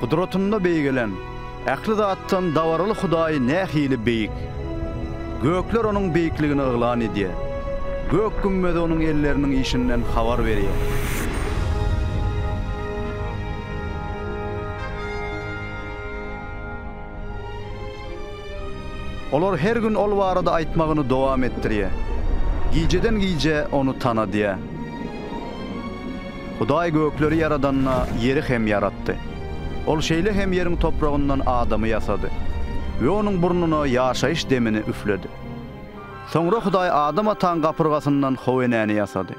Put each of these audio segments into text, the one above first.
Gudratynda beýgelen, ähli zatdan dabaraly Hudaý nähili beýik! Gökler Onuň beýikligini yglan edýär. Gök gümmezi Onuň elleriniň işinden habar berýär. Olar her gün Ol barada aýtmagyny dowam etdirýär. Gijeden-gijä Ony tanadýar. Hudaý gökleri ýaradanda, ýeri hem ýaratdy. Ol şeýle hem ýeriň topragyndan adamy ýasady we onuň burnuna ýaşaýyş demini üfledi. Soňra Hudaý Adam ataň gapyrgasyndan How enäni ýasady.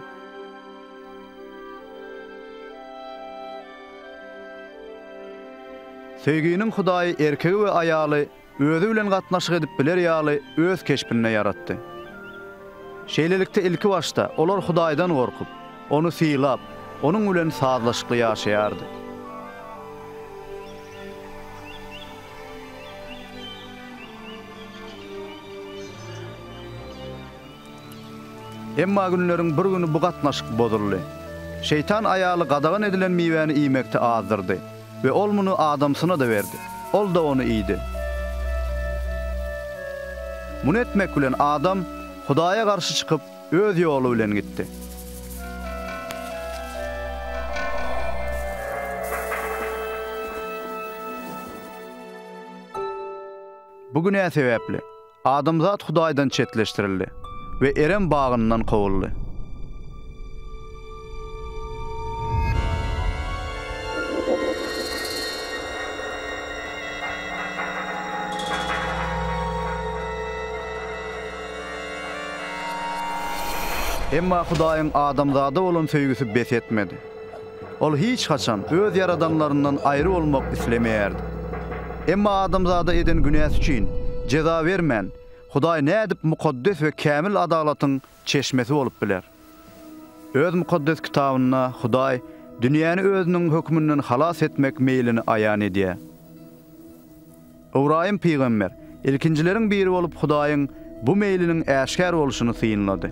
Söýginiň Hudaýy erkegi we aýaly özi bilen gatnaşyk edip biler ýaly öz keşbinde ýaratdy. Şeýlelikde ilki başda olar Hudaýdan gorkup, Ony sylap, Onuň bilen sazlaşykly ýaşaýardy. Emma günleriň bir güni bu gatnaşyk bozuldy. Şeýtan aýaly gadagan edilen miwäni iýmekde azdyrdy we ol muny adamsyna-da berdi. Ol-da ony iýdi. Muny etmek bilen adam Hudaýa garşy çykyp, öz ýoly bilen gitdi. Bu günä sebäpli. Adamzat Hudaýdan çetleşdirildi we Erem bagyndan kowuldy. Emma Hudaýyň adamzada bolan söýgüsi bes etmedi. Ol hiç haçan öz ýaradanlaryndan aýry bolmak islemeýärdi. Emma adamzada eden günäsi üçin jeza bermän, Hudaý nädip mukaddes we kämil adalatyň çeşmesi bolup biler? Öz Mukaddes Kitabynda Hudaý dünýäni özüniň hökmünden halas etmek meýlini aýan edýär. Ybraýym pygamber, ilkinjileriň biri bolup Hudaýyň bu meýliniň äşgär bolşuny synlady.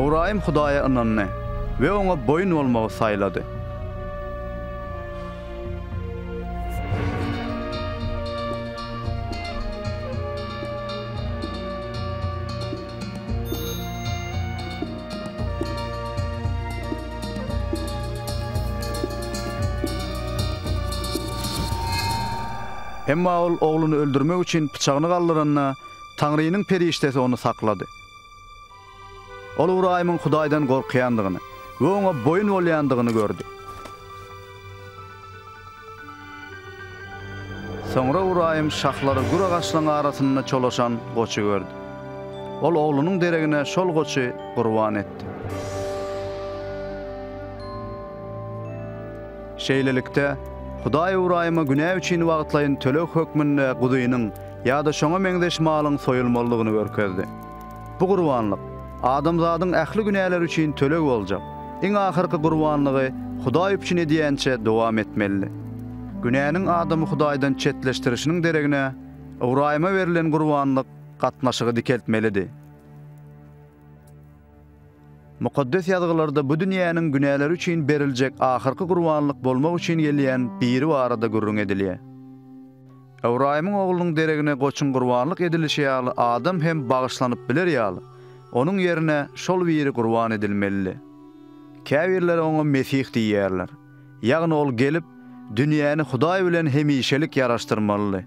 Ybraýym Hudaýa ynandy we Oňa boýun bolmagy saýlady. Emma ol ogluny öldürmek üçin pyçagyny galdyranda, Taňrynyň perişdesi ony saklady. Ol Ybraýymyň Hudaýdan gorkýandygyny we oňa boýun bolýandygyny gördi. Soňra Ybraýym şahlary gür agaçlaryň arasynda çolaşan goçy gördi. Ol oglunyň deregine şol goçy gurban etdi. Şeýlelikde, Hudaý Ybraýyma günä üçin wagtlaýyn töleg hökmünde guzynyň, ýa-da şoňa meňzeş malyň soýulmalydygyny görkezdi. Bu gurbanlyk, adamzadyň ähli günäleri üçin töleg boljak, iň ahyrky gurbanlygy Hudaý üpjün edýänçä dowam etmelidi. Günäniň adamy Hudaýdan çetleşdirişiniň deregine, Ybraýyma berlen gurbanlyk gatnaşygy dikeltmelidi. Mukaddes Ýazgylarda bu dünýäniň günäleri üçin beriljek ahyrky gurbanlyk bolmak üçin gelýän Biri barada gürrüň edilýär. Ybraýymyň oglunyň deregine goçuň gurbanlyk edilişi ýaly adam hem bagyşlanyp biler ýaly, onuň ýerine şol Biri gurban edilmelidi. Käbirleri oňa Mesih diýýärler, ýagny ol gelip, dünýäni Hudaý bilen hemişelik ýaraşdyrmalydy.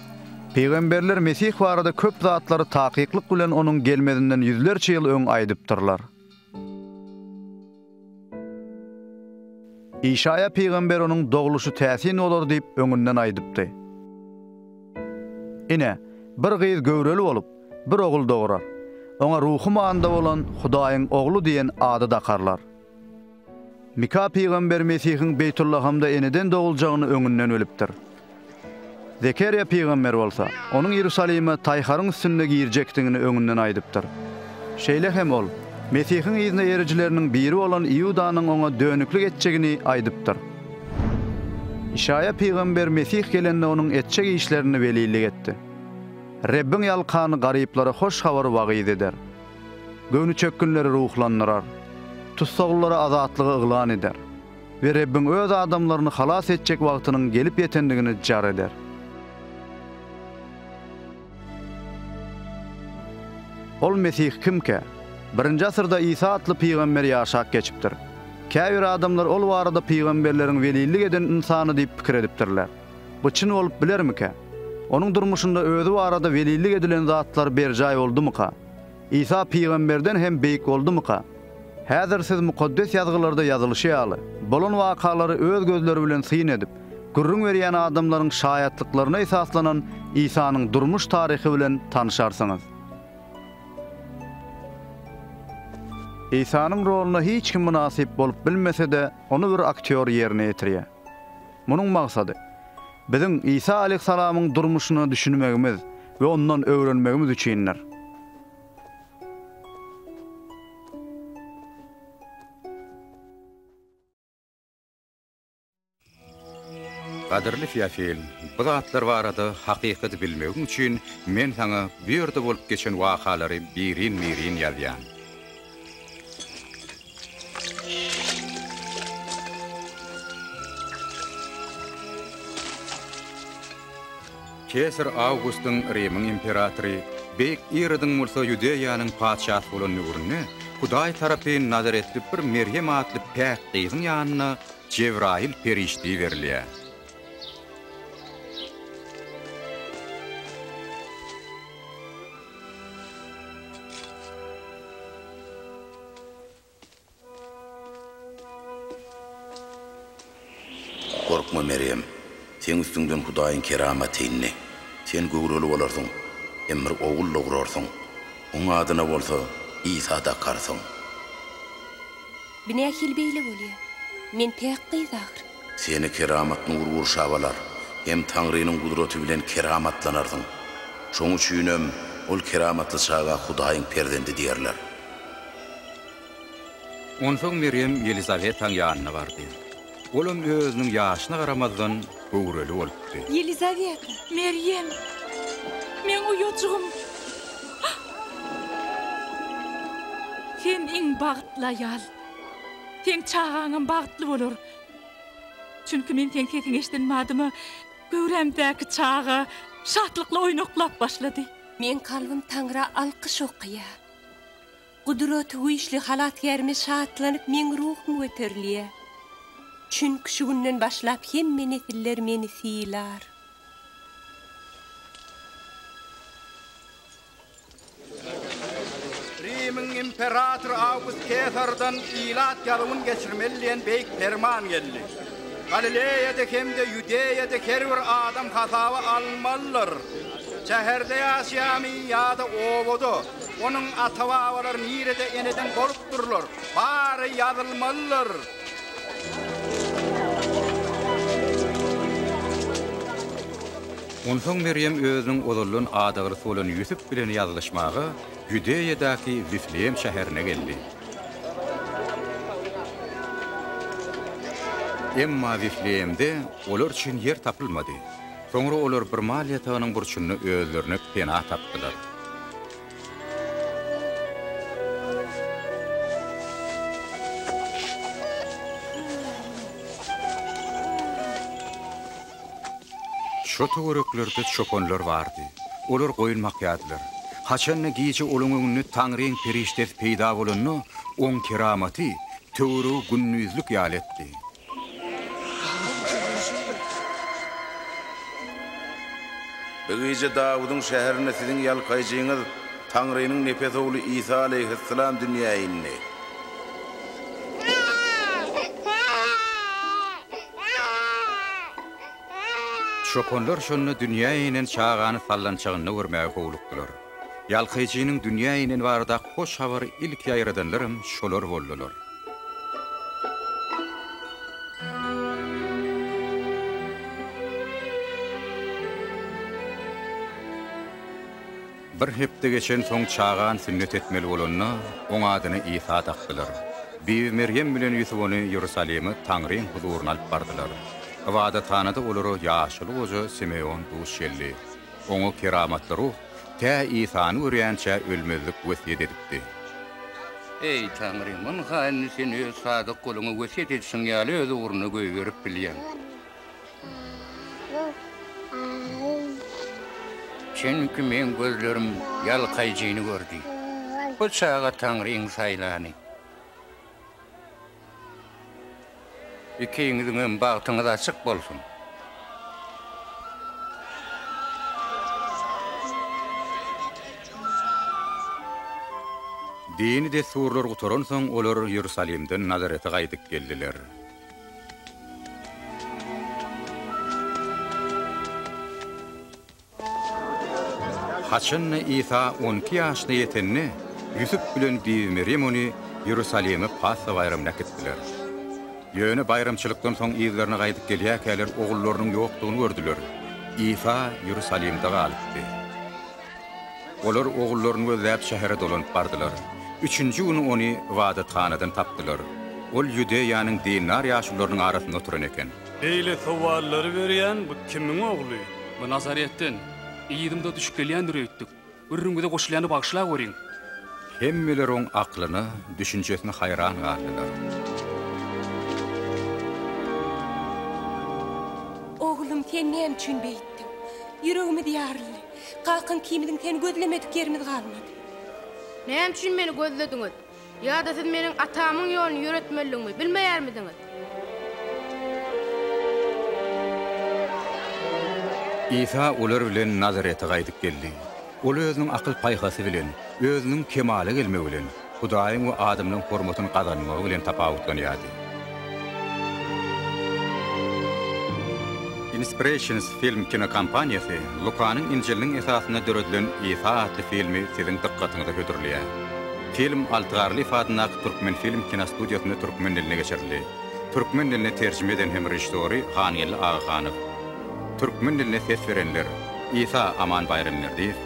Pygamberler Mesih barada köp zatlary takyklyk bilen onuň gelmezinden ýüzlerçe ýyl öň aýdypdyrlar. Işaýa pygamber onuň dogluşy täsin bolar diýip öňünden aýdypdy. Ine, bir gyz göwreli bolup, bir ogul dograr. Oňa Ruhy Manda bolan Hudaýyň Ogly diýen ady dakarlar. Mika pygamber Mesihiň Beýtullahamda eneden doguljagyny öňünden bilipdir. Zekeriýa pygamber bolsa, onuň Iýerusalime taýharyň üstünde girjekdigini öňünden aýdypdyr. Şeýle hem ol Mesihiň yzyna erijileriniň biri bolan Iudanyň oňa dönüklik etjegini aýdypdyr. Işaýa pygamber Mesih gelende onuň etjek işlerini welillik etdi. Rebbiň ýalkany garyplara hoş habary wagyz eder. Göwni çökgünleri ruhlandyrar. Tussaglylara azatlygy yglan eder we Rebbiň Öz adamlaryny halas etjek wagtynyň gelip ýetendigini jar eder. Ol Mesih kimkä? Birinji asyrda Isa atly pygamber ýaşap geçipdir. Käbir adamlar ol barada pygamberleriň welillik eden ynsany diýip pikir edipdirler. Bu çyn bolup bilermikä? Onuň durmuşynda özi barada welillik edilen zatlar berjaý boldumyka? Isa pygamberden hem beýik boldumyka? Häzir siz Mukaddes Ýazgylarda ýazylyşy ýaly, bolan wakalary öz gözleri bilen syn edip, gürrüň berýän adamlaryň şaýatlyklaryna esaslanan Isanyň durmuş taryhy bilen tanyşarsyňyz. Isanyň roluna hiç kim mynasyp bolup bilmese-de, ony bir aktýor ýerine ýetirýär. Munuň maksady, biziň Isa aleýhissalamyň durmuşyna düşünmegimiz we ondan öwrenmegimiz üçindir. Gadyrly Feofil, bu zatlar barada hakykaty bilmegiň üçin men saňa bu ýerde bolup geçen wakalary birin-birin ýazýan. Kesar Awgustyň, Rimiň imperatory, beýik Irodyň bolsa Ýudeýanyň patyşasy bolan döwründe Hudaý tarapyn nazaretli bir Merýem atly päk gyzyň ýanyna Jebraýyl perişde iberilýär. Gorkma, Merýem! Seň üstüňden Hudaýyň keramaty indi. Sen göwreli bolarsyň, hem bir ogul dogurarsyň. Oň adyna bolsa Isa dakarsyň. Bu nähili beýle bolýar? Men päk gyz ahyry. Seni keramat nur gurşap alar, hem Taňrynyň gudraty bilen keramatlanarsyň. Şoň üçinem ol keramatly çaga Hudaýyň perzendi diýerler. Onsoň Merýem Ýelizawetaň ýanyna bardy. Olam özüniň ýaşyna garamazdan, göwreli bolupdy. Ýelizaweta! Merýem! Meň uýajygym! Sen iň bagtly aýal. Seň çagaňam bagtly bolar. Çünki men seň sesiňi eşiden badyma, göwrämdäki çaga şatlykly oýnaklap başlady. Meň kalbym Taňra alkyş okaýar. Gudratygüýçli Halasgärime şatlanyp meň ruhum göterilýä. Çünki şu günden başlap hemme nesiller meni sylar. Rimiň imperatory Awgust Kesardan ilat ýazuwyn geçirmeli diýen beýik perman geldi. Galileýada hem-de Ýudeýada her bir adam hasaba alynmalydyr. Şäherde ýaşaýamy ýa-da obada, onuň ata-babalary nirede eneden bolupdyrlar, bary ýazylmalydyr. Onsoň Merýem özüniň ozaldan adaglysybolan Ýusup bilen ýazylşmaga Ýudeýadaky Wifleýem şäherine geldi. Emma Wifleýemde olar üçin ýer tapylmady. Soňra olar bir mal ýatagynyň burçunda özlerine pena tapdylar. Şo töwereklerde çopanlar bardy. Olar goýun bakýardylar. Haçan-da gije olaň öňünde Taňryň perişdesi peýda bolanda, oň keramaty töweregi gündizlik ýaly etdi. Bi gije Dawudyň şäherinde siziň ýalkaýjyňyz, Taňrynyň nepes ogly Isa aleýhyssalam dünýä indi. Çopanlar şonda dünýä inen çagany sallançagynda görmäge howlukdylar. Ýalkyjynyň dünýä ineni baradaky hoş habary ilki ýaýradanlaram şolar boldular. Bir hepde geçensoň çagan sünnet etmeli bolanda, oň adyny Isa dakdylar. Bibi Merýem bilen Ýusup ony Iýerusalime Taňryň huzuryna alyp bardylar. Ybadathanada olara ýaşuly goja Simeon duş geldi. Oňa keramatly ruh tä Isany görýänçä ölmezlik wesýet edipdi. Eý, Taňry, muny haýyny Sen Öz sadyk guluňa wesýet edişiň ýaly öz ugruna goýberip bilýäň. Çünki meň gözlerim ýalkaýjyny gördi. Bu çaga Taňryň saýlany. Ikiňiziňem bagtyňyz açyk bolsun. Dini dessurlar gutaransoň, olar Iýerusalimden Nazarete gaýdyp geldiler. Haçan-da Isa on iki ýaşyna ýetende, Ýusup bilen bibi Merýem ony Iýerusalime Passa baýramyna äkitdiler. Ýöne baýramçylykdan soň yzlaryna gaýdyp gelýärkäler ogullarynyň ýokdugyny gördüler. Isa Iýerusalimde galypdy. Olar ogullaryny gözläp şähere dolanyp bardylar. Üçünji güni ony ybadathanadan tapdylar. Ol Ýudeýanyň dindar ýaşulularynyň arasynda oturan eken. Beýle sowallary berýän bu kimiň ogly? Bu Nazaretden. Yzymda düşüp gelýändir öýtdük. Gürrüňize goşulýany bagyşlaweriň. Hemmeler oň aklyna, düşünjesine haýran galdylar. Oglum, sen näme üçin beýtdiň? Ýüregimiz ýaryldy. Kakam kimidin seni gözlemedik ýerimiz galmady. Näme üçin meni gözlediňiz? Ýa-da siz meniň atamyň ýoluny ýöretmelidigimi bilmeýärmidiňiz? Isa olar bilen Nazarete gaýdyp geldi. Ol özüniň akyl-paýhasy bilen, özüniň kemala gelmegi bilen, Hudaýyň we adamlaryň hormatyny gazanmagy bilen tapawutlanýardy. Inspirations Film kinokompaniýasy Lukanyň Injiliniň esasynda döredilen Isa atly filmi siziň dykgatyňyza hödürleýär. Film Alty Garlyýew adyndaky Türkmenfilm kinostudiýasynda türkmen diline geçirildi. Türkmen diline terjime eden hem režissory Hangeldi Agahanow. Türkmen diline ses berenler, Isa Aman Baýramberdiýew,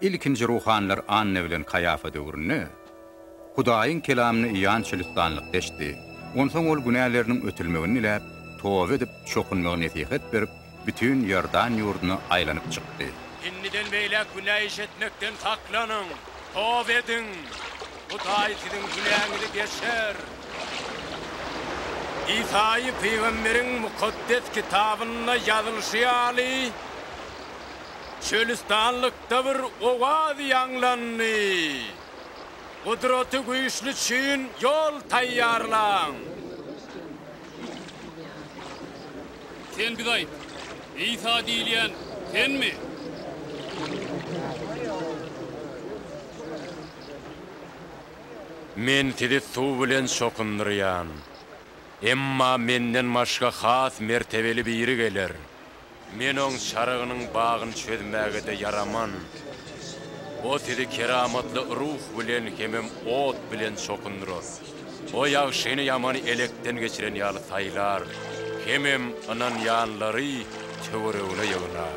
Ilkinji ruhanylar Anna bilen Kaýafa döwründe Hudaýyň kelamyny Ýan Çölüstanlyk deşdi. Onsoň ol günäleriniň ötülmegini diläp, toba edip, çokunmagy nesihat berip, bütin Iordan ýurduna aýlanyp çykdy. Indiden beýläk günä iş etmekden saklanyň, toba ediň, Hudaý siziň günäňizi geçer. Isaýa pygamberiň Mukaddes Kitabynda ýazylyşy ýaly, Çölüstanlykda bir owaz ýaňlandy, Gudraty güýçli üçin ýol taýýarlaň! Sen bize aýt, Isa diýilýän Senmi? Men sizi suw bilen çokundyrýan. Emma Menden başga has mertebeli biri geler. Men oň çarygynyň bagyny çözmäge-de ýaraman. O sizi keramatly ruh bilen hemem ot bilen çokundyrar. O ýagşyny-ýamany elekden geçiren ýaly saýlar, hemem ynanýanlary töweregine ýygnar.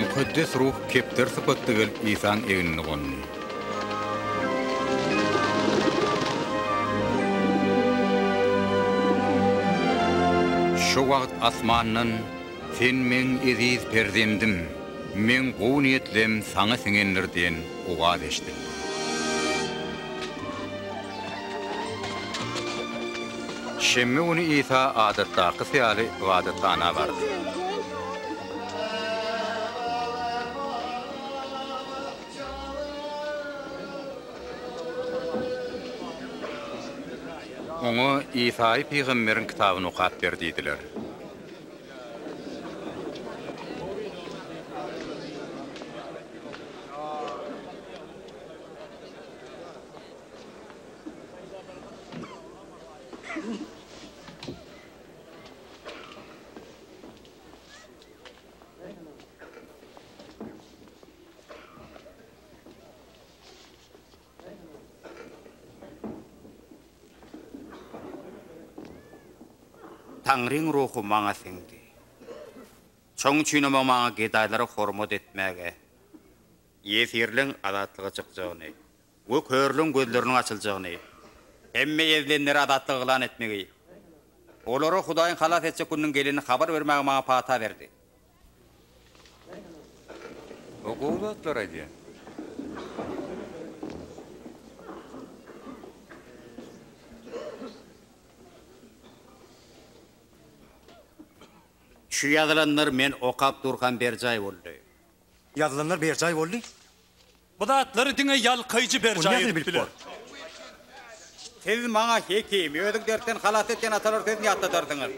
Mukaddes Ruh kepder sypatda gelip Isaň egnine gondy. Şo wagt asmandan, Sen Meň eziz Perzendim, Meň gowy niýetlem Saňa siňendir diýen owaz eşidildi. Şenbe güni Isa adatdakysy ýaly ybadathana bardy. Oňa Isaýy pygamberiň kitabyny okap ber diýdiler. Taňryň ruhy maňa siňdi. Şoň üçinem oň maňa gedaýlara hormat etmäge, Ýesirleň azatlyga çykjagyny we körleň gözleriniň açyljagyny, hemme ezilenleri azatlyga yglan etmegi, olara Hudaýyň halas etjek gününiň gelenini habar bermegi maňa pata berdi. O gowy zatlar aýdýar. Şu ýazylanlar men okap durkam berjaý boldy. Ýazylanlar berjaý boldy. Bu zatlary diňe ýalkaýjy berjaý edip biler. Siz maňa Hekim, özüň dertden halas et diýen atalar sözüni ýatladarsyňyz.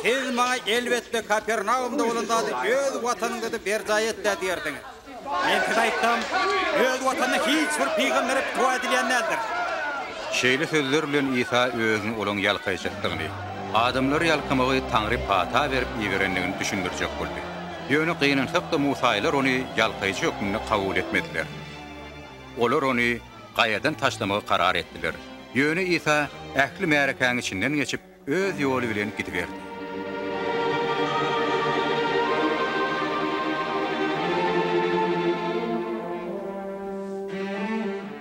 Siz maňa elbetde Kapernaumda bolan zady öz watanyňda-da berjaý et-dä diýersiňiz. Men size aýtsam, öz watanyna hiç bir pygambere pitiwa edilýän däldir. Şeýle sözler bilen Isa özüni olaň ýalkaýjykdygyny, adamlary ýalkamagy Taňry pata berip iberendigini düşündirjek boldy. Ýöne gynansak-da musaýylar ony ýalkaýjy hökmünde kabul etmediler. Olar ony gaýadan taşlamagy karar etdiler. Ýöne Isa ähli märekäň içinden geçip, öz ýoly bilen gidiberdi.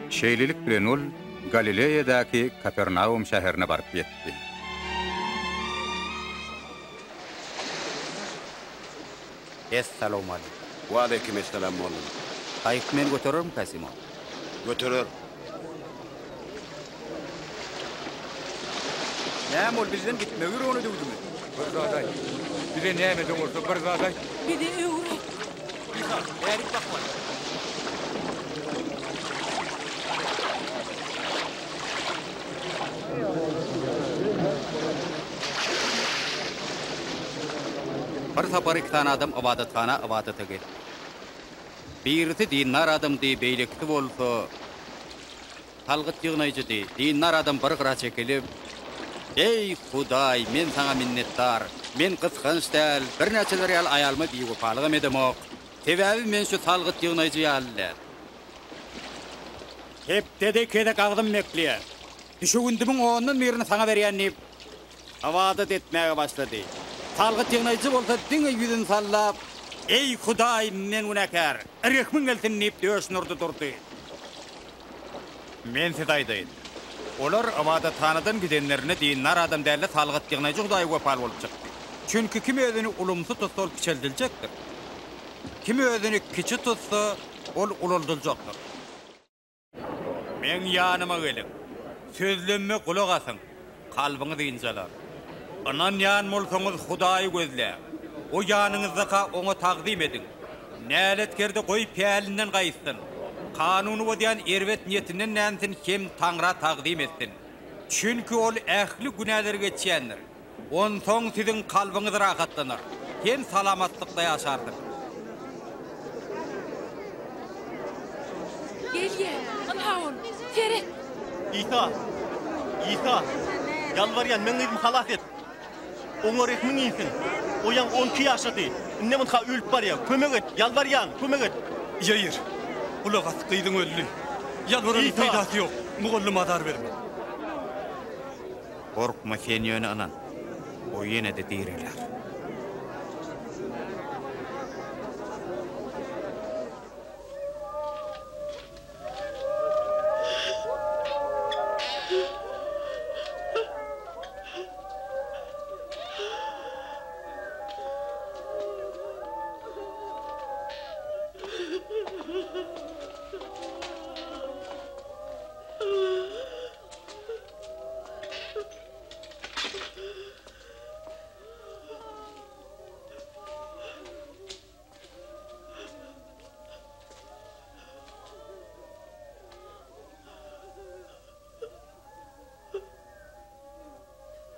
Şeýlelik bilen ol Galileýadaky Kapernaum şäherine baryp ýetdi. Es salowmalik. Waleýkim es salam mollum. Gaýyk meni göterermikä Simon? Göterer. Näme ol bizden gitmek ýüregine düwdümi? Bir zat aýt. Bize näme de bolsa bir zat aýt. Bizi öwret. Misal, bärik bakmaly. Bir sapar iki sany adam ybadathana ybadata gelipdi. Birisi dindar adamdy, beýlekisi bolsa salgyt ýygnaýjydy. Dindar adam bir gyra çekilip, Eý, Hudaý, men Saňa minnetdar. Men gysganç däl, birnäçeler ýaly aýalyma biwepalygam edemok. Sebäbi men şu salgyt ýygnaýjy ýaly däl. Hepdede iki gezek agzym mekleýär. Düşewündimiň ondan birini saňa berýän diýip, hawadat etmäge başlady. Salgyt ýygnaýjy bolsa diňe ýüzüni sallap, Eý, Hudaý, men günäkär! Rehmiň gelsin! diýip, döşüni urdy durdy. Men size aýdaýyn, olar ybadathanadan gidenlerine dindar adam däl-de, salgyt ýygnaýjy Hudaýa wepaly bolup çykdy. Çünki kim özüni ulumsy tutsa, ol kiçeldiljekdir. Kim özüni kiçi tutsa, ol ulaldyljakdyr. Meň ýanyma geliň. Sözlemime gulak asyň, kalbyňyz ynjalar. Ynanýan bolsaňyz, Hudaýy gözläň, o ýanyňyzda-ka Oňa tagzym ediň. Näletkerde goý, pälinden gaýtsyn, kanuny bozýan erbet niýetinden dänsin hem Taňra tagzym etsin. Çünki ol ähli günäleri geçýändir. Onsoň siziň kalbyňyz rahatlanar hem salamatlykda ýaşarsyňyz. Gelýär! Ynha ol! Seret! Isa! Isa! Ýalbarýan, meň gyzymy halas et! Oňa rehmiň insin! O ýaňy on iki ýaşady, indem ynha ölüp barýar! Kömek et! Ýalbarýan, kömek et! Ýair, gulak as, gyzyň öldi! Ýalbaranyň peýdasy ýok! Mugallym azar berme! Gorkma sen ýöne ynan, o ýene-de direler.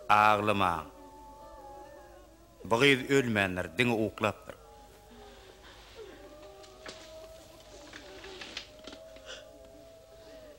Aglamaň. Bu gyz ölmändir, diňe uklapdyr.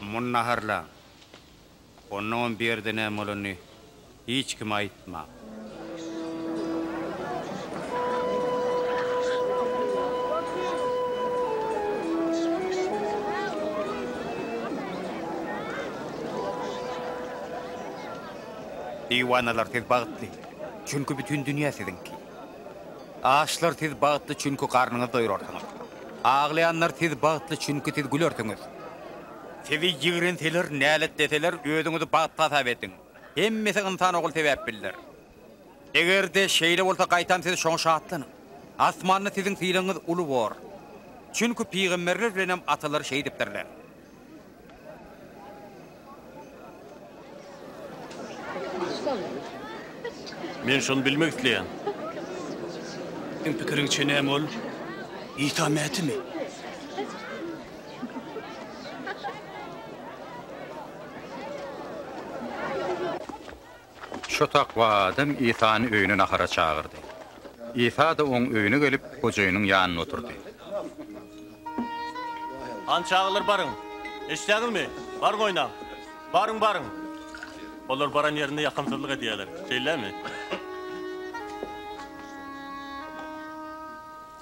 Muny naharlaň. Onnoňam bu ýerde näme bolanyny hiç kime aýtmaň. Diwanalary siz bagtly. Çünki bütin dünýä siziňki. Açlar siz bagtly çünki garnyňyz doýrarsyňyz. Aglaýanlar siz bagtly çünki siz gülersiňiz. Sizi ýigrenseler, näletleseler özüňizi bagtly hasap ediň. Hemmesi ynsan ogul sebäpbildir. Egerde şeýle bolsa gaýtam siz şoňa şatlanyň. Asmanda siziň sylagyňyz uly bor. Çünki pygamberler bilenem atalar şeýdipdirler. Men şony bilmek isleýän. Seň pikiriňçe näme ol? Isa Mätimi? Şo takwa adam Isany öýüne nahara çagyrdy. Isa-da oň öýüne gelip, gojaýynyň ýanynda oturdy. Hany çagalar baryň, eşitdäňizmi? Baryň oýnaň. Baryň, baryň. Olar baran ýerinde ýakymsyzlyk edýärler. Şeýlemi?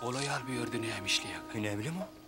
Ol aýal bu ýerde näme işleýär? Näme bilemok.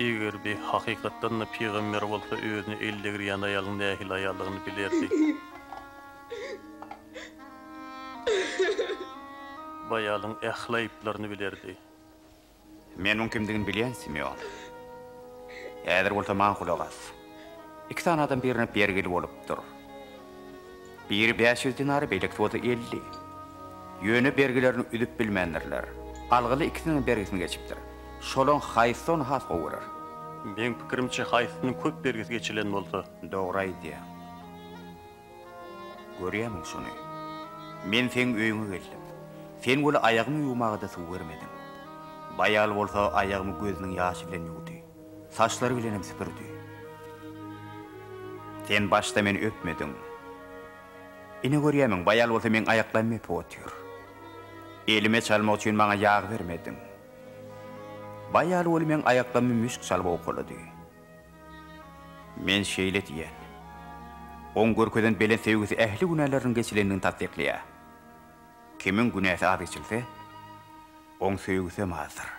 Eger bi hakykatdan-da pygamber bolsa özüne el degirýän aýalyň nähili aýaldygyny bilerdi. Bu aýalyň ähli aýyplaryny bilerdi. Men muň kimdigini bilýän, Simeon. Häzir bolsa maňa gulak as. Iki sany adam birine bergili bolupdyr. Biri bäş ýüz dinary, beýlekisi bolsa elli. Ýöne bergilerini üzüp bilmändirler. Algyly ikisiniň hem bergisini geçipdir. Şolaň haýsy ony has gowy görer? Meň pikirimçe, haýsysynyň köp bergisi geçilen bolsa. Dogry aýdýaň. Görýämiň şuny? Men seň öýüňe geldim. Sen weli aýagymy ýuwmaga-da suw bermediň. Bu aýal bolsa aýagymy gözüniň ýaşy bilen ýuwdy. Saçlary bilenem süpürdi. Sen başda meni öpmediň. Ine görýärmiň, baýal bolsa meň aýaklarymy öpüp otyr. Elime çalmak üçin maňa ýag bermediň. Baýal bol meň aýaklarymy müşk çalyp owkalady. Men şeýle diýen. Oň görkezen belent söýgüsi ähli günäleriniň geçilendigini tassyklaýar. Kimiň günäsi az geçilse, oň söýgüsem azdyr.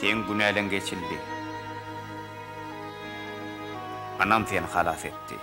Seň günäleň geçildi. Anam seni halas etdi.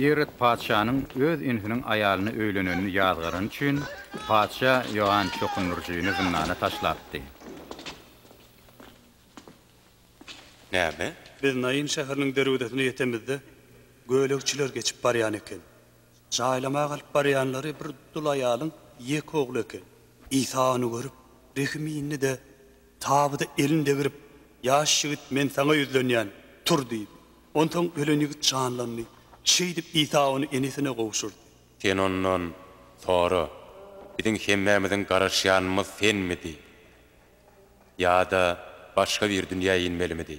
Irod patyşanyň öz inisiniň aýalyna öýlenenini ýazgarany üçin, patyşa Ýoan Çokundyryjyny zyndana taşlapdy. Näme? Biz Naýyn şäheriniň derwezesine ýetemizde, gölegçiler geçip barýan eken. Jaýlama galyp barýanlary bir dul aýalyň ýeke ogly eken. Isa ony görüp, rehim indi-de, Tabyda elini degrip, Ýaş ýigit, men saňa ýüzlenýän, tur! diýdi. Onsoň ölen ýigit janlandy. Şeýdip, Isa ony enesine gowşurdy. Sen ondan, Sora, biziň hemmämiziň garaşýanymyz senmidi? Ýa-da başga bir dünýä inmelimidi?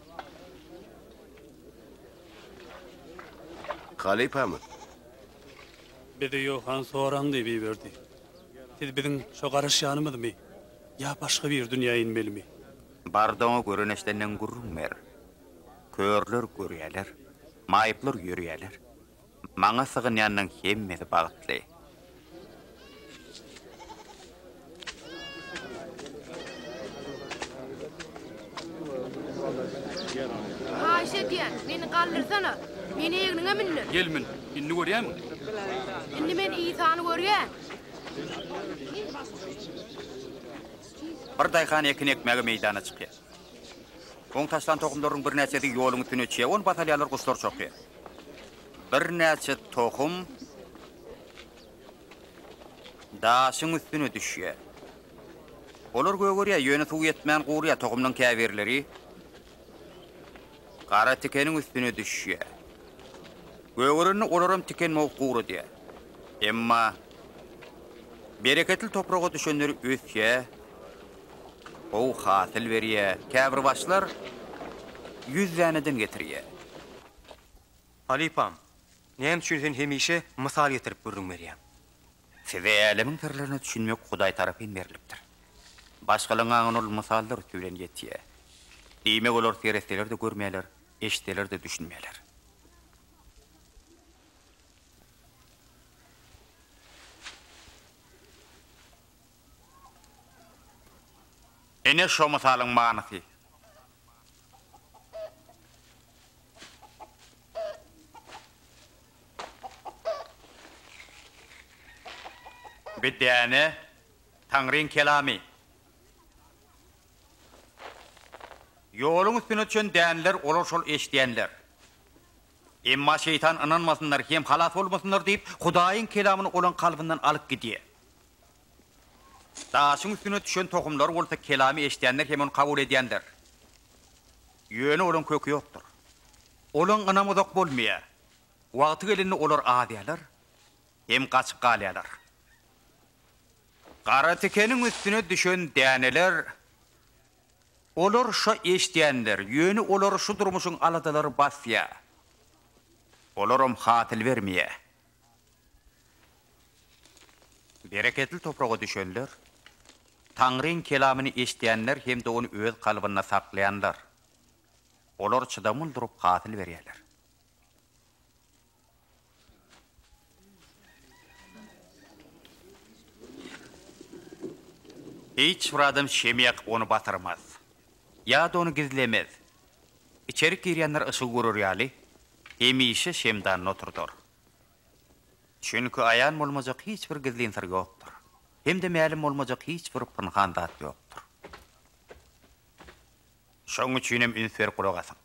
Halypamy? Bizi Ýohan soraň diýip iberdi. Siz biziň şo garaşýanymyzmy? Ýa başga bir dünýä inmelimi? Bardaňy gören eşdenden gürrüň ber. Körler görýärler, maýyplar ýörýärler. Maňa sygynýanyň hemmesi bagtly. Haýyş edýän, meni galdyrsana. Meni egniňe mündür. Gel mün. Indi görýäňmi? Indi men Isany görýän. Bir daýhan ekin ekmäge meýdana çykýar. Oň taşlan tohumlarynyň birnäçesi ýoluň üstüne çyýar, ony basalýarlar, guşlar çokaýar. Birnäçe tohum daşyň üstüne düşýär. Olar gögerýär, ýöne suw ýetmän gurýar. Tohumlaryň käbirleri gara tikeniň üstüne düşýär. Gögerende olaram tiken mowup guradýar. Emma bereketli topraga düşenleri ösýär. Gowy hasyl berýä. Käbir başlar ýüz däneden getirýä. Halypam, näme üçin sen hemişe mysal getirip gürrüň berýäň? Size älemiň syrlaryna düşünmek Hudaý tarapyn berlipdir. Başgalaryň aňyna ol mysallar üsti bilen ýetýär. Diýmek, olar seretseler-de görmeýärler, eşitseler-de düşünmeýärler. Ine şo mysalyň manysy. Bir däne Taňryň kelamy. Ýoluň üstüne düşen däneler olar şol eşidýänler. Emma şeýtan ynanmasynlar hem halas bolmasynlar diýip Hudaýyň kelamyny olaň kalbyndan alyp gidýär. Daşyň üstüne düşen tohumlar bolsa kelamy eşidýändir hem ony kabul edýändir. Ýöne olaryň köki ýokdur. Olaryň ynamy uzak bolmaýar. Wagty gelende olar azýarlar hem gaçyp galýarlar. Gara tikeniň üstüne düşen däneler, olar şa eşidýändir, ýöne olary şu durmuşyň aladalary basýar. Olaram hasyl bermeýär. Bereketli topraga düşenler, Taňryň kelamyny eşidýänler hem-de ony öz kalbynda saklaýanlar. Olar çydamly durup hasyl berýärler. Hiç bir adam şem ýakyp ony batyrmaz, ýa-da ony gizlemez, Içerik girýänler yşygy görer ýaly, hemişe şemdanda oturdar. Çünki aýan bolmajak hiç bir gizlin syr ýokdur, hem-de mälim bolmajak hiç bir pynhan zat ýokdur. Şonuň üçin hem üns berip gulak asyň.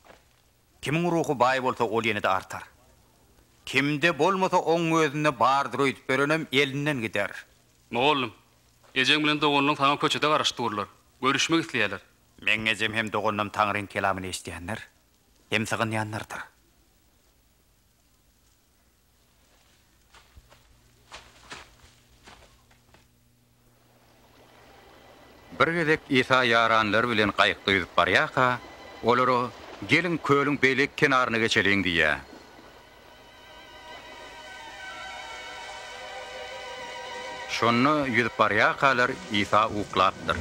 Kimiň ruhy baý bolsa, ol ýene-de artar. Kimde bolmasa, oň özünde bardyr öýdüp berenem elinden gider. Mugallym, ejeň bilen doganlyň saňa köçede garaşyp durlar. Görüşmek isleýärler. Meň ejem hem doganym Taňryň kelamyny eşidýänler hem sygynýanlardyr. Bir gezek Isa ýaranlary bilen gaýykda ýüzüp barýarka, olara, Geliň, kölüň beýleki kenaryna geçeliň diýýär. Şonda ýüzüp barýarkalar, Isa uklapdyr.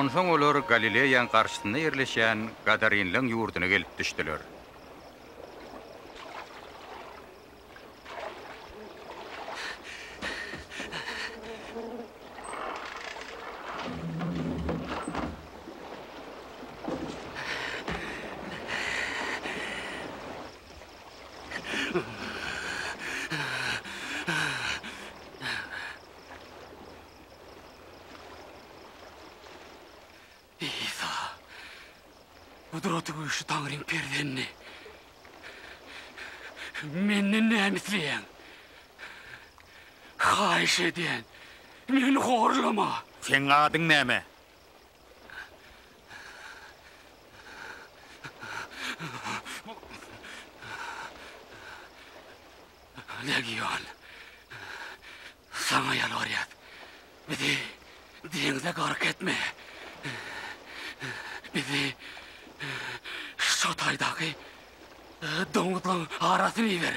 Onsoň olar Galileýaň garşysynda ýerleşen gadarinleň ýurduna gelip düşdüler. Isa, gudraty güýçli Taňryň Perzendi, menden näme isleýäň? Haýyş edýän, meni horlama! Seň adyň näme? Legion. Saňa ýalbarýas, bizi deňze gark etme. Bizi şo taýdaky doňuzlaň arasyna iber.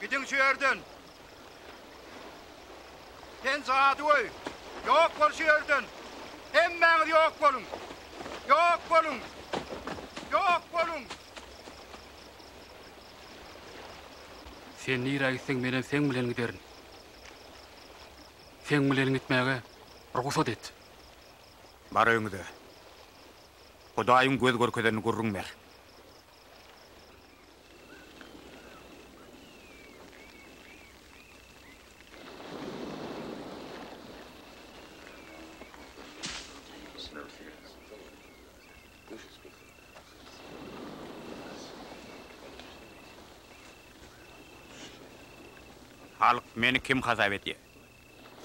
Gidiň şu ýerden. Sen jadygöý. Ýok bol şu ýerden. Hemmäňiz ýok boluň. Ýok boluň. Ýok boluň. Sen nirä gitseň men hem seň bilen giderin. Seň bilen gitmäge rugsat et. Bar öňüde. Hudaýyň göz görkezenini gürrüň ber. Halk meni kim hasap edýär?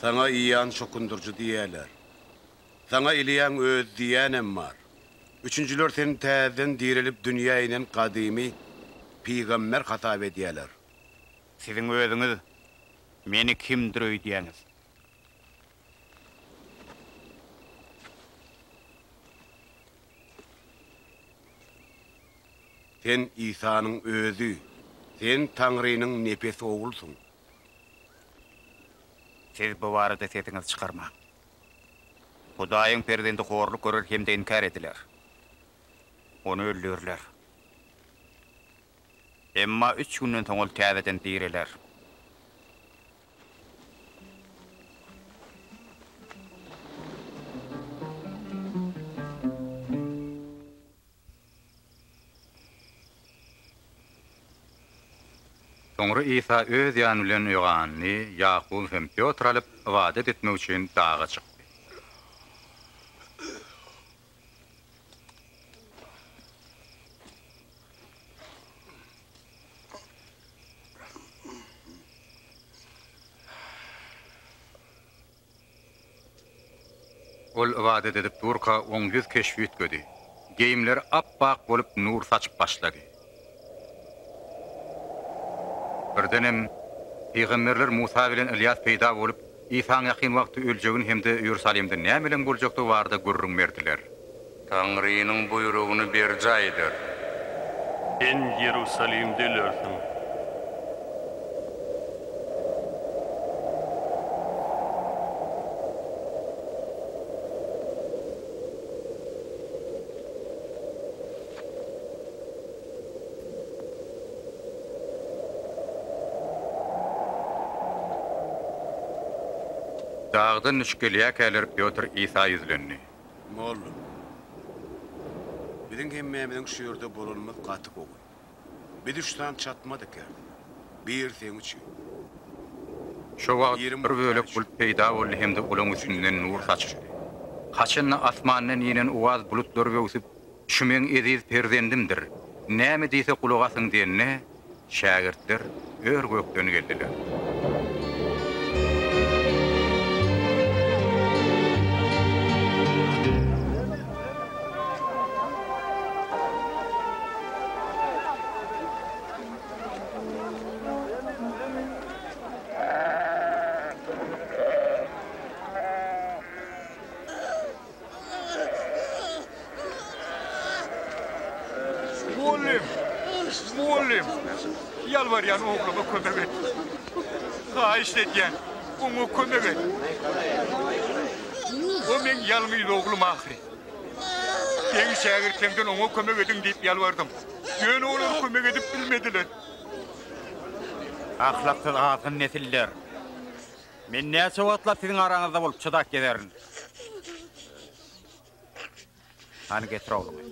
Saňa ýan şokundyryjy diýýärler. Saňa Iliýaň özi diýýänem bar. Üçünjiler seni täzeden direlip dünýä inen gadymy pygamber hasap edýäler. Siziň özüňiz meni kimdir öýdýäňiz? Sen Isanyň özi. Sen Taňrynyň nepes oglusyň. Siz bu barada sesiňizi çykarmaň. Hudaýyň perzendi horluk görer hem-de inkär ediler. Ony öldürler. Emma üç günden soň ol täzeden direler. Soňra Isa öz ýany bilen Ýohanny, Ýakuby hem Pýotry alyp, ybadat etmek üçin daga çykdy. Ol ybadat edip durka oň ýüz keşbi üýtgedi. Geýimleri ap-ak bolup nur saçyp başlady. Birdenem, pygamberler Musa bilen Ylýas peýda bolup, Isaň ýakyn wagtda öljegini hem-de Iýerusalimde nämelerň boljakdygy barada gürrüň berdiler. Taňrynyň buýrugyny berjaý eder. Sen Iýerusalimde ölersiň. Dagdan düşüp gelýärkäler Pýotr Isa ýüzlendi. Mollum. Biziň hemmämiziň şu ýerde bolanymyz gaty gowy. Biz üç sany çatmadyka. Biri seň üçin. Şo wagt bir bölek bulut peýda boldy hem-de olaň üstünden nur saçyşdy. Haçanda asmandan inen uwaz bulutlar böwsüp, Şu meň eziz perzendimdir, näme diýse gulak asyň diýende, şägirtler ör-gökden geldiler. Mugallym! Mugallym! Ýalbarýan ogluma kömek et! Haýyşt edýän, oňa kömek et! O meň ýalňyz oglum ahyry. Seň şägirtleňden oňa kömek ediň diýip ýalbardym. Ýöne olar kömek edip bilmediler. Ahlaksyz azgyn nesiller! Men näçe wagtlap siziň araňyzda bolup çydap gezerin. Hany getir ogluňy.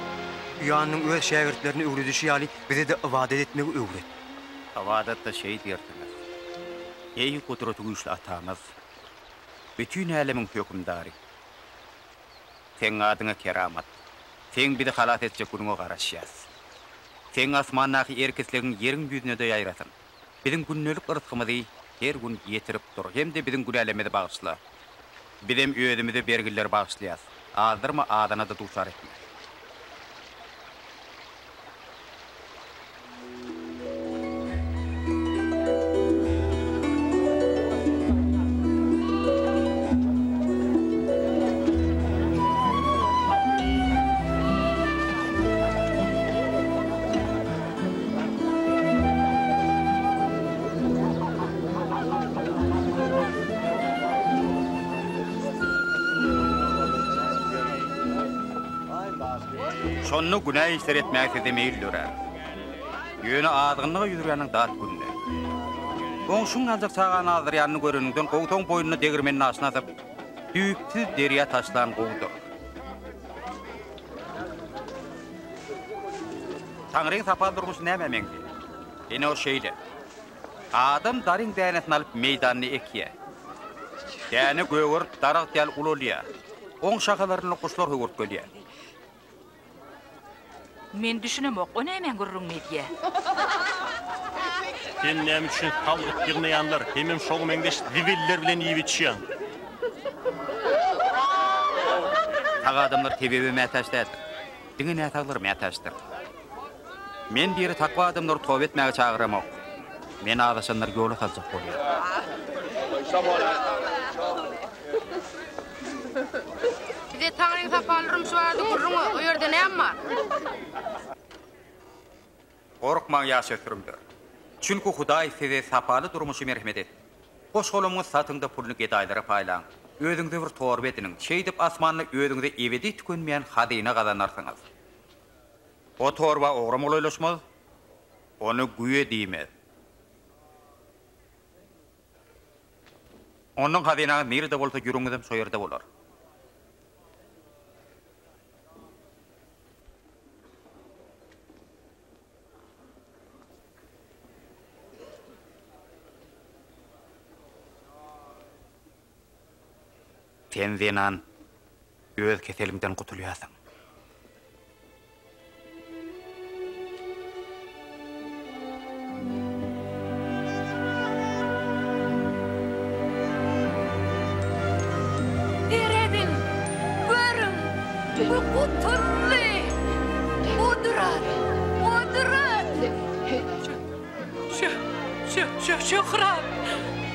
Ýanyň öz şägirtlerine öwredişi ýaly, bize-de ybadat etmegi öwret. Ybadatda şeýdip ýertmez. Eý, Gudratygüýçli Atamyz, bütin älemiň Hökümdary! Seň adyňa keramat! Seň bizi halas etjek günüňe garaşýas. Seň asmandaky erk-islegiň ýeriň ýüzüne-de ýaýrasyn! biziň gündelik yrsgymyzy her gün ýetirip dur hem-de biziň günälerimizi bagyşla. Bizem özümize bergileri bagyşlaýas. Azdyrma, azana-da duçar etme. Şonda günä işler etmäge size meýil dörär. Ýöne azgynlyga ýüz urýanyň dat gününe. Goňşyň aljak çagany azdyrýanyny göreniňden gowsaň boýnuny degirmeniň aşyna atyp, düýpsüz derýa taşlan gowudyr. Taňryň tapal durmuşy nämä meňzeýär? Ine ol şeýle. Adam daryň dänesini alyp meýdanda ekýär. Däne gögerip daragt ýaly ulalýar. Oň şahalaryny guşlar höwürtgelýär. Men düşünemok, o nämäň gürrüňini edýär? Sen näme üçin salgyt ýygnaýanlar, hemem şoňa meňzeş zibiller bilen iýip-içýäň? Sag adamlar tebebe mätäç däl. Diňe näsaglar mätäçdir. Men diri takwa adamlary toba etmäge çagyramok. Meni azaşanlar ýola saljak bolýar. Size Taňryň sapaly durmuşy barada gürrüň, o ýerde näme bar? Gorkmaň ýaşösürümler! Çünki Hudaý size sapaly durmuşy merhemet etdi. Goş-golamyňy satyň-da, puluny gedaýlara paýlaň. Özüňize bir torba ediniň. Şeýdip, asmanda özüňize ebedi tükenmeýän hazyna gazanarsyňyz. O torba ogra molaýlaşmaz, ony güýe diýmez. Ondan hazynaňyz nirede bolsa, ýüregiňizem şo ýerde bolar. Sen zenan öz keseliňden gutulýarsyň. Serediň, görüň, bu gutuldy! Gudrat! Gudrat! Şö-şö-şöhrat!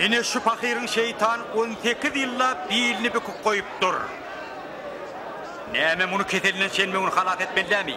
Ine şu pahyryň şeýtan on sekiz ýyllap bilini büküp goýupdyr. Näme muny keselinden şenbe güni halas etmelidämi?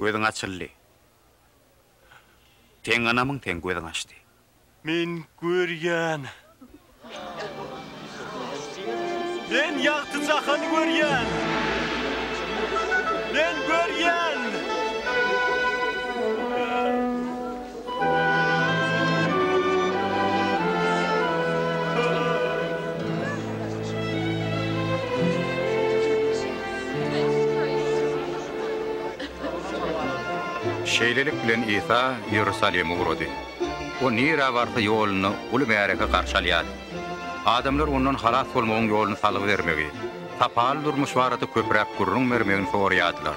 Gözüň açyldy. Seň ynamyň seň gözüň açdy. Men görýän. Men ýagty jahany görýän. Men görýän. Şeýlelik bilen Isa Iýerusalime ugrady. O nirä barsa ýolunda uly märeke garşy alýardy. Adamlar ondan halas bolmagyň ýoluny salgy bermegi, sapaly durmuş barada köpräk gürrüň bermegini soraýardylar.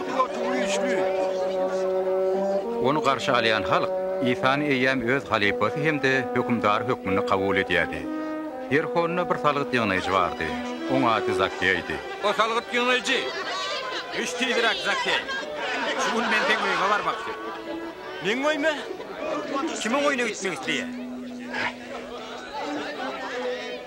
Pilot güýçli. Ony garşy alýan halk Isany eýýäm öz halypasy hem-de hökümdary hökmünde kabul edýärdi. Ýerihonda bir salgyt ýygnaýjy bardy. Oň ady Zakkeýdi. O salgyt ýygnaýjy, Düş tizräk, Zakkeý! Şu gün men seň öýüňe barmakçy. Meň öýüme? Kim oň öýüne gitmek isleýär?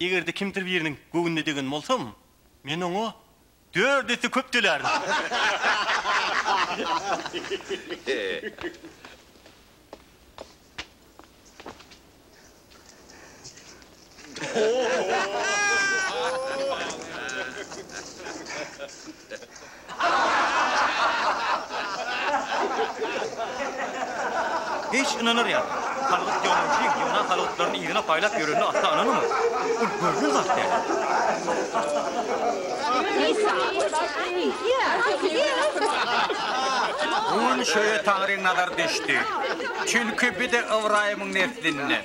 Eger-de kimdir biriniň göwnüne degen bolsam, men oňa dört esse köp tölärin. Hiç ynanar ýaly däl. Salgyt ýolagçy ýygnan salgytlaryny yzyna paýlap ýörenine asla ynanamok. Ol görlen zat däl. Gün şöýe Taňryň nazary düşdi. Çünki bide Ybraýymyň neslinden.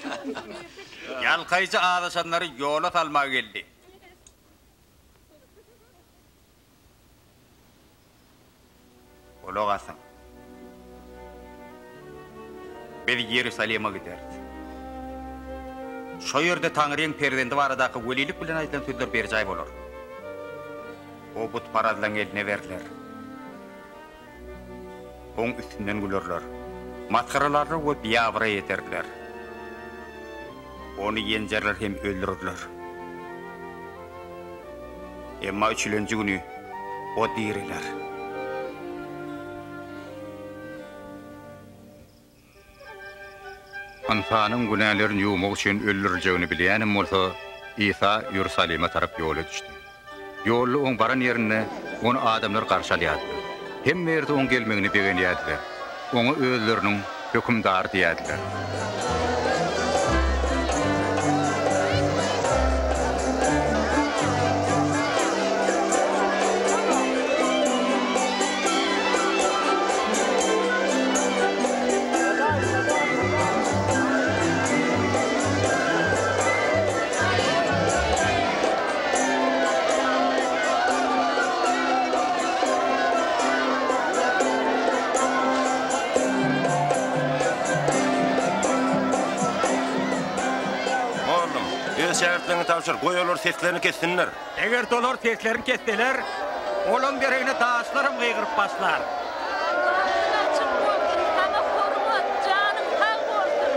Ýalkaýjy azaşanlary ýola salmaga geldi. Gulak asyň! Biz Iýerusalime gideris. Şo ýerde Taňryň Perzendi baradaky welilik bilen aýdylan sözler berjaý bolar. O butparazlaryň eline berler. Oň üstünden gülerler. Masgaralaryna we biabraý ederler. Ony ýenjerler hem öldürerler. Emma üçülenji güni O direler. Ynsanyň günälerini ýuwmak üçin öldüriljegini bilýänem bolsa, Isa Iýerusalime tarap ýola düşdi. Ýolda oň baran ýerinde ony adamlar garşy alýardylar. Hemme ýerde oň gelmegine begenýärdiler. Oňa özleriniň Hökümdary diýýärdiler. Oglum, öz şägirtleriňe tabşyr, goý olar seslerini kessinler. Eger-de olar seslerini kesseler, olaň deregine daşlaram gygyryp başlar. Aýagyň açyk bolsun, saňa hormat, janyň sag bolsun!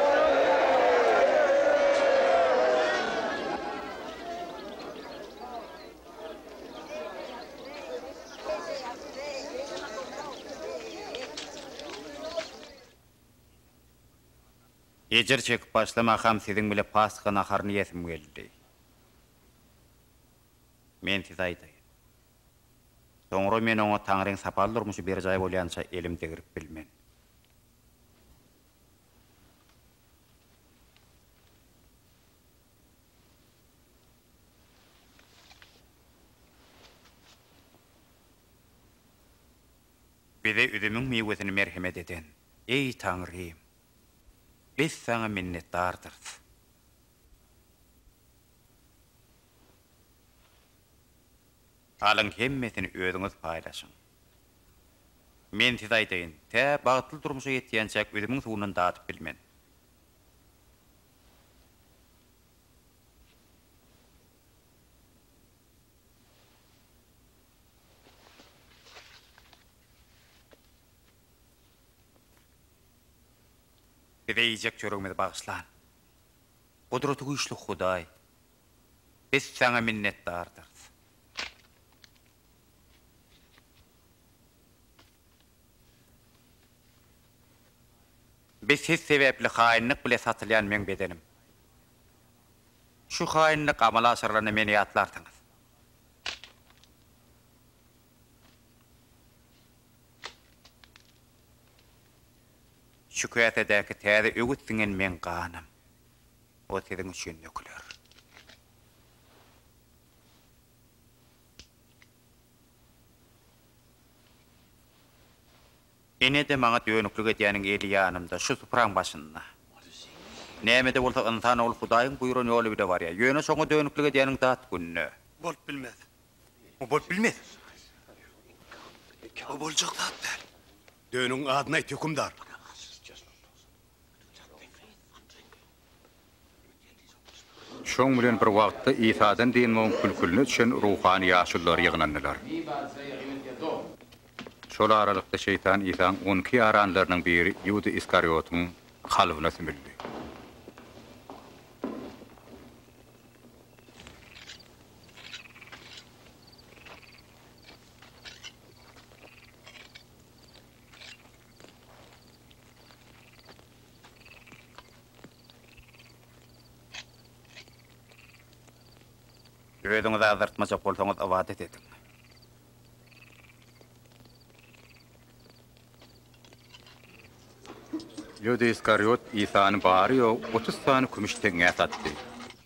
Ejir çekip başlamakam siziň bile Pasha naharyny iýesim geldi. Men size aýdaýyn. Soňra men oňa Taňryň sapar durmuşy berjaý bolýança elim degrip bilmen. Bize üzümiň miwesini merhemet eden, eý, Taňrym! Biz Saňa minnetdardyrys. Alyň hemmesini özüňiz paýlaşyň. Men size aýdaýyn, tä bagtly durmuşa ýetýänçäk üzümiň suwundan dadyp bilmen. Bize iýjek çöregimizi bagyşlan. Gudratygüýçli Hudaý, biz Saňa minnetdardyrys. Biz Siz sebäpli haýynlyk bile satylýan meň bedenim. Şu haýynlyk amala aşyrylanda meni ýatlarsyňyz. Şu käsedäki täze öwüt siňen meň ganym. Ol siziň üçin döküler. Ine-de maňa dönüklik edýäniň eli ýanymda, şu supraň başynda. Näme-de bolsa ynsan ol Hudaýyň buýran ýoly bile barýar. Ýöne şoňa dönüklik edýäniň dat gününe. Bolup bilmez. Bu bolup bilmez. Bu boljak zat däl. Dönüň adyny aýt, hökümdar! Şoň bilen bir wagtda Isadan dynmagyň kül-külüne düşen ruhany ýaşulular ýygnandylar. Şol aralykda Şeýtan Isaň on iki ýaranlarynyň biri Ýuda Iskariotyň kalbyna sümüldi. Özüňizi azdyrtmajak bolsaňyz ybadat ediň. Ýuda Iskariýot Isany bary-ýogy otuz sany kümüş teňňä satdy.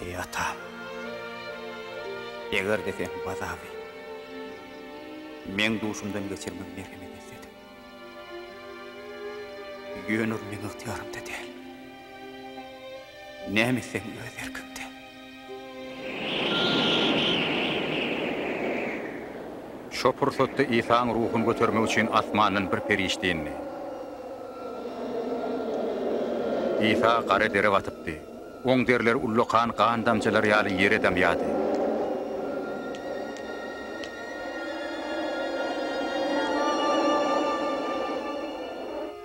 Eý atam! Eger-de sen bu azaby meň duşumdan geçirmegi merhemet etsediň. Ýöne ol meň ygtyýarymda däl. Näme etseň öz erkiňde. Şo pursatda Isaň ruhuny götermek üçin asmandan bir perişde indi. Isa gara dere batypdy. Oň derleri ullakan gan damjalary ýaly ýere damýardy.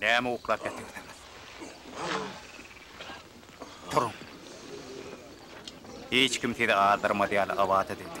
Näme uklap ýatyrsyňyz? Turuň! Hiç kim sizi azdyrmaz ýaly abat edildi.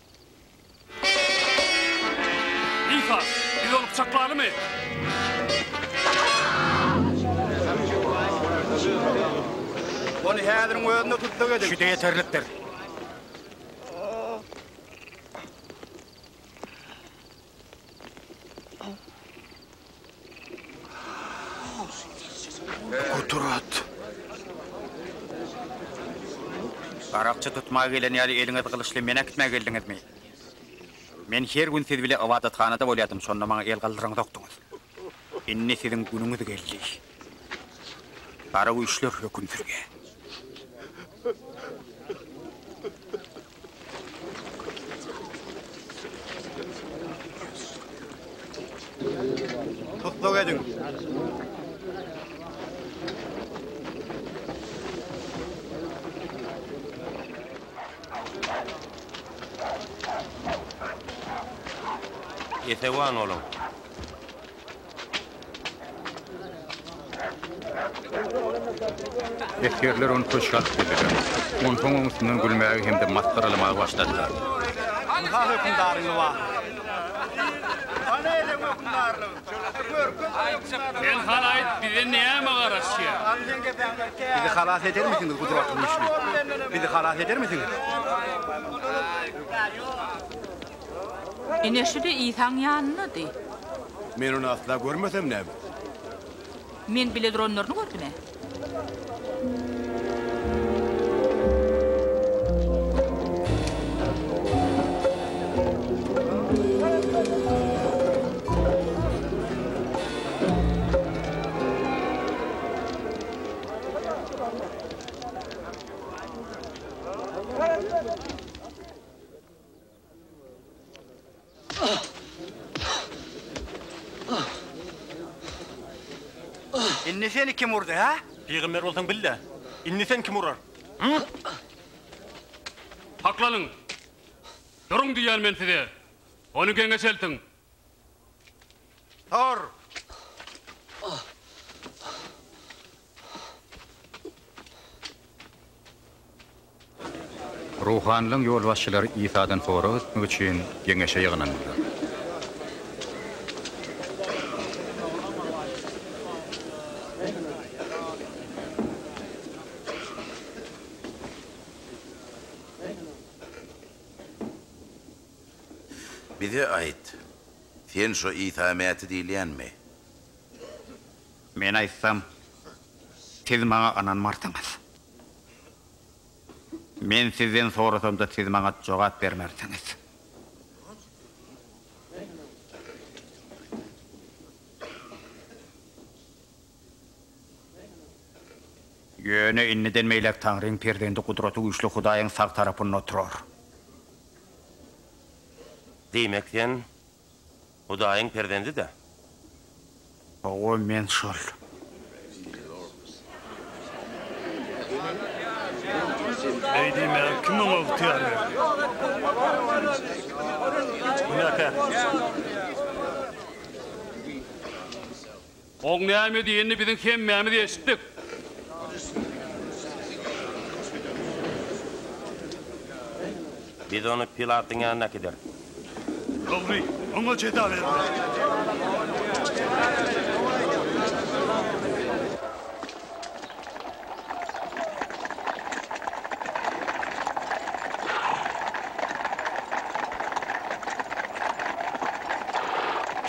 Lisa, biz ony pyçaklalymy? Ony häziriň özünde tussag ediň. Şide ýeterlikdir. Gudrat. Garakçy tutmaga gelen ýaly eliňiz gylyçly men äkitmä geldiňizmi? Men her gün siz bile ybadathanada bolýadym, şonda maňa el galdyraňzokdyňyz. Indi siziň günüňiz geldi. Gara güýçler höküm sürýär. Tutluk ediň. Esewan boluň. Esgerler ony köşge alyp girdiler. Onsoň oň üstünden gülmäge hem-de masgaralamaga başladylar. Ynha hökümdaryň lybasyny. Hany eleň hökümdarlygy? Görkez hökümdaryň lybasyny. Sen hany aýt, bize näme garaşýar? Bizi halas edermisiňiz, gudratly güýçli? Bizi halas edermisiňiz? Ine, şu-da Isaň ýanyndady. Men ony asla görmesem näme? Men bile duranlaryny gördüm-ä. Indi seni kim urdy, hä? Pygamber bolsaň bil-de, indi seni kim urar? Saklanyň! Duruň diýýän men size! Ony geňeşeltiň! Tur! Ruhanylaryň ýolbaşçylary Isadan sorag etmek üçin geňeşe ýygnandylar. Bize aýt, sen şo Isa Mäti diýilýänmi? Men aýtsam, siz maňa ynanmarsyňyz. Men sizden sorasamda siz maňa jogap bermersiňiz. Ýöne indiden beýläk Taňryň perzendi Gudratygüýçli Hudaýyň sag tarapynda oturar. Diýmek, sen Hudaýyň perzendi-dä? Hawa, men şol. Beý diýmäge kim oňa ygtyýar berdi? Günäkär. Oň näme diýenini biziň hemmämiz eşitdik. Biz ony Pilatyň ýanyna äkideris. Dogry, oňa jeza bermeli.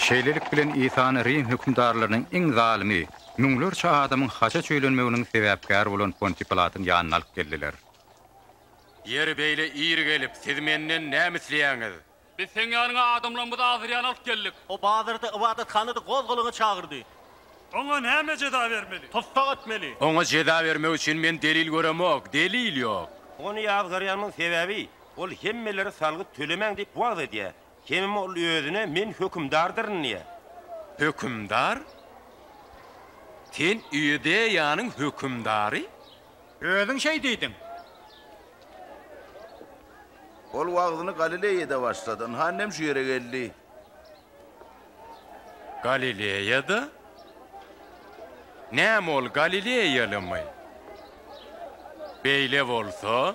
Şeýlelik bilen Isany Rim hökümdarlarynyň iň zalymy, müňlerçe adamyň haça çüýlenmeginiň sebäpkäri bolan Pontiý Pilatyň ýanyna alyp geldiler. Ýeri beýle iri gelip, siz menden näme isleýäňiz? Biz seň ýanyňa adamlarymyzy azyrýan alyp geldik. O bazarda ybadathanadan gozgalaňa çagyrdy. Oňa näme jeza bermeli? Tussag etmeli. Oňa jeza bermek üçin men delil göremok, delil ýok. Ony ýazgarýanymyň sebäbi, ol hemmelere salgyt tölemäň diýip wagyz edýär. Hemem ol özüne men hökümdardyryn diýýär. Hökümdar? Sen Iudeýanyň hökümdary? Özüň şeý diýdiň. Ol wagzyny Galileýada başlady. Ynha, inem şu ýere geldi. Galileýada? Näme ol galileýalymy? Beýle bolsa.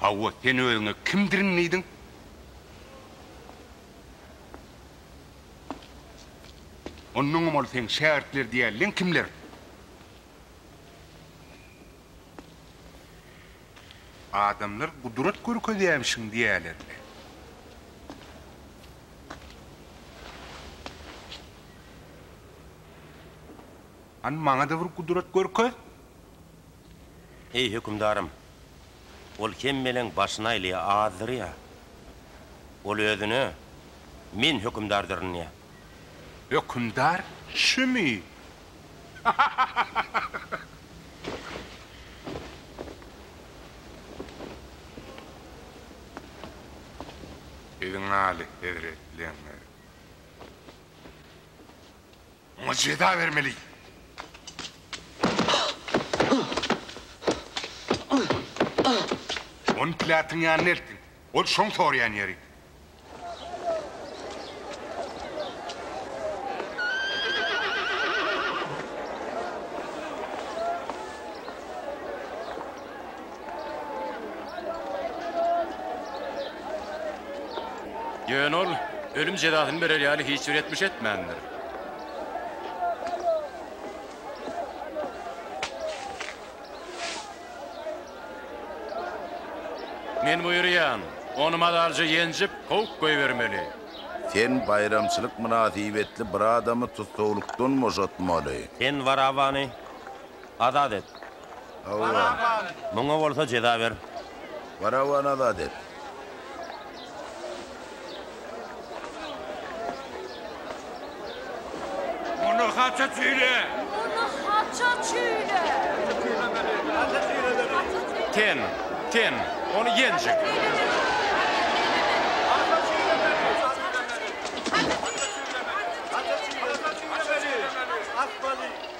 Hawa, sen özüňe kimdirin diýdiň? Onnoňam ol seň şägirtler diýäliň kimler? Adamlar gudrat görkezýämişiň diýälerdi. Hany, maňa-da bir gudrat görkez! Eý, hökümdarym, ol hemmeleň başyny aýlaýar, azdyrýar. Ol özüne, Men hökümdardyrynýar. Hökümdar şümi? Siziň alyhezretligiňiz! Oňa jeza bermeli. Ony Pilatyň ýanyna eltiň. Ol şoň soraýan ýeri. Ýöne ol ölüm jezasyny berer ýaly hiç bir etmiş etmändir. Men buýurýan, ony mazalyja ýenjip, kowup goýbermeli. Sen baýramçylyk mynasybetli bir adamy tussaglykdan boşatmaly. Sen Barabany azat et. Baraban. Muňa bolsa jeza ber. Baraban azat et. Muny haça çüýle. Muny haça çüýle. Haça çüýle. Ten, ten, ony ýenjek. Atmaly.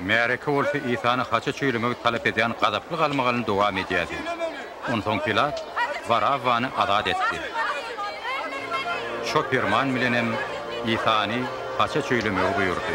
Märeke bolsa Isany haça çüýlemegi talap edýän gazaply galmagalyny dowam edýärdi. Onsoň Pilat Barabbany azat etdi. Şo perman bilenem Isany haça çüýlemegi buýurdy.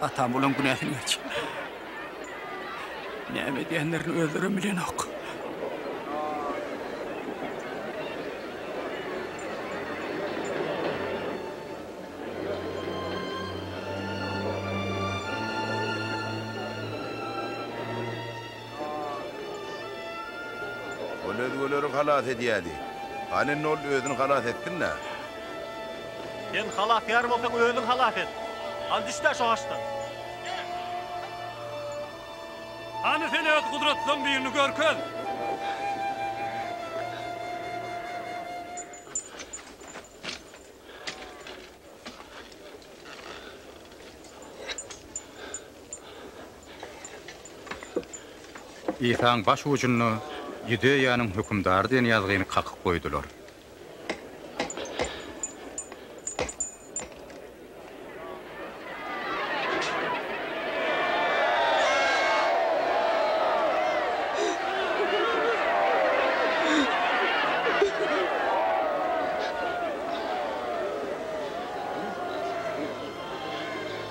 Atam olaň günäsini geçir. Näme edýänlerini özlerem bilenok. Ol özgeleri halas edýärdi. Hany indi ol özüni halas etsin-dä? Sen halasgär bolsaň, özüň halas et. Hany düş-dä şo haçdan. Hany sen öz gudratlaň birini görkez. Isaň baş ujunda Ýudeýanyň hökümdary diýen ýazgyny kakyp goýdular.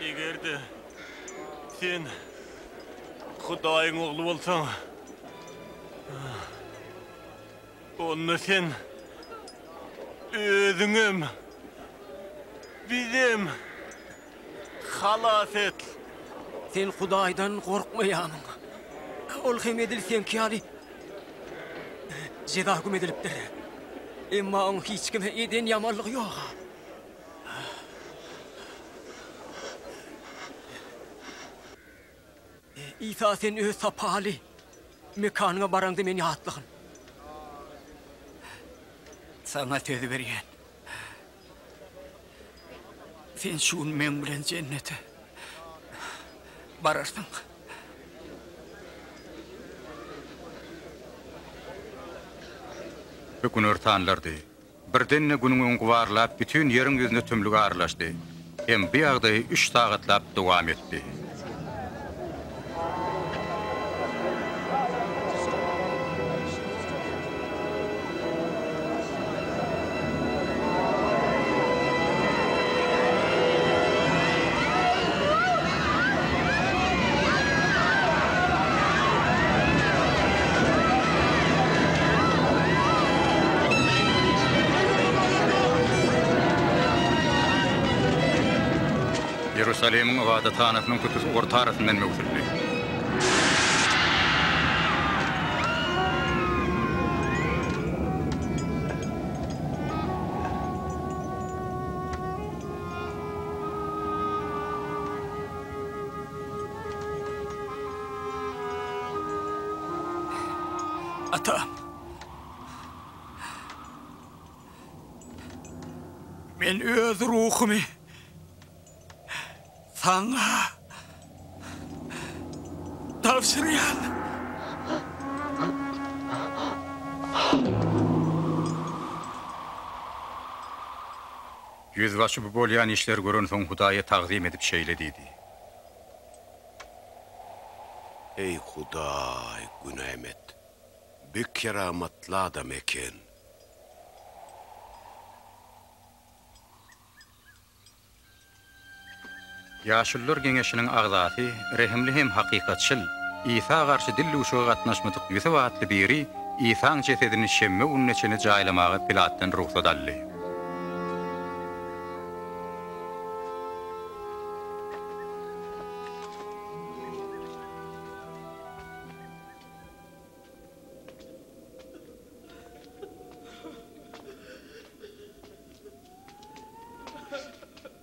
Eger-de sen Hudaýyň ogly bolsaň, onda sen özüňem, bizem. halas et! Sen Hudaýdan gorkmaýamyň? Ol hem edil seňki ýaly jeza hüküm edilipdir. Emma oň hiç kime eden ýamanlygy ýok. Isa sen öz sapaly mekanyňa baraňda meni ýatlagyn. Saňa söz berýän. Sen şu gün meň bilen jennete bararsyň. Günortanlardy. Birden-de Günüň öňki barlap bütin Ýeriň ýüzüne tümlük aralaşdy hem bu ýagdaýy üç sagatlap dowam etdi. Iýerusalimiň ybadathanasynyň köpüsi orta arasyndan möwsüldi. Ata! Men öz ruhumy saňa tabşyrýan. Ýüzbaşy bu bolýan işleri görensoň Hudaýa tagzym edip şeýle diýdi. Eý, Hudaý, günäm et! Bi keramatly adam eken. Ýaşulular geňeşiniň agzasy, rehimli hem hakykatçyl, Isa garşy dil duşuga gatnaşmadyk Ýusup atly biri Isaň jesedini şenbe gününe çenli jaýlamaga Pilatdan rugsat aldy.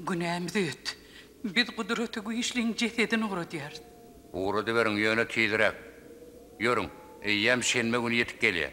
Günämiz öt. Biz Gudraty Güýçliň jesedini ugradýarys. Ugradyberiň, ýöne tizräk. Ýörüň, eýýäm şenbe güni ýetip gelýär.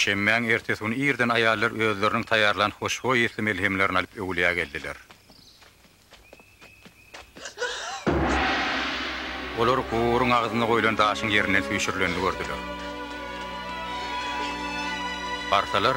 Şenbäň ertesi güni irden aýallar özleriniň taýýarlan hoşboý ysly melhemlerini alyp Öwülýä geldiler. Olar guburyň agzynda goýlan daşyň ýerinden süýşürilenini gördüler. Barsalar,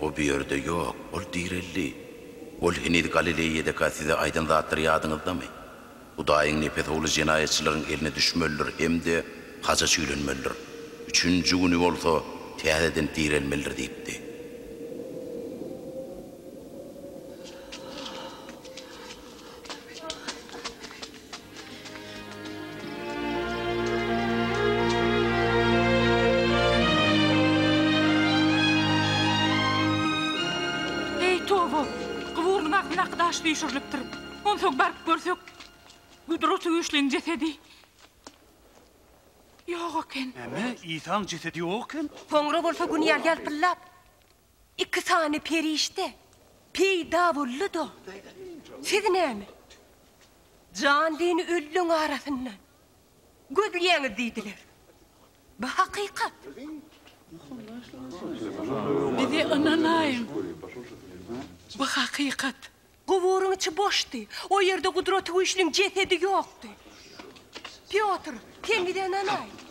O bu ýerde ýok, ol direldi. Ol heniz Galileýadaka size aýdan zatlary ýadyňyzdamy? Hudaýyň nepes ogly jenaýatçylaryň eline düşmelidir hem-de haja çüýlenmelidir. Üçünji güni bolsa täzeden direlmelidir diýipdi. Eý, toba! Guburynyň agzyndaky daş süýşürilipdir. Onsoň baryp görsek, Gudraty Güýçliň jesedi ýok eken. Näme, Isaň jesedi ýok eken? Soňra bolsa gün ýaly ýalpyldap. Iki sany perişde peýda boldy-da, siz näme, jan-dini ölüleň arasyndan gözleýäňiz diýdiler. Bu hakykat. Bize ynanaýyň, bu hakykat. Guburyň içi boşdy. O ýerde Gudratygüýçliň jesedi ýokdy. Pýotr, sen gidänem-aý.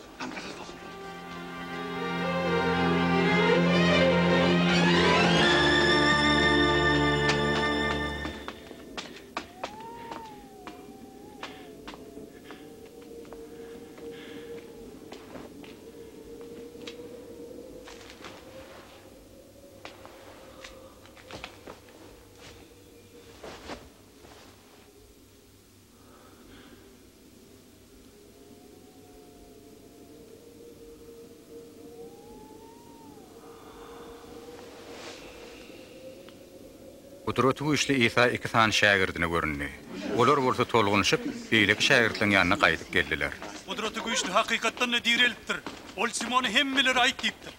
Gudraty güýçli Isa iki sany şägirdine göründi. Olar bolsa tolgunyşyp, beýleki şägirtleriň ýanyna gaýdyp geldiler. Gudraty güýçli hakykatdan-da direlipdir. Ol Simona hemmeleri aýt diýipdir.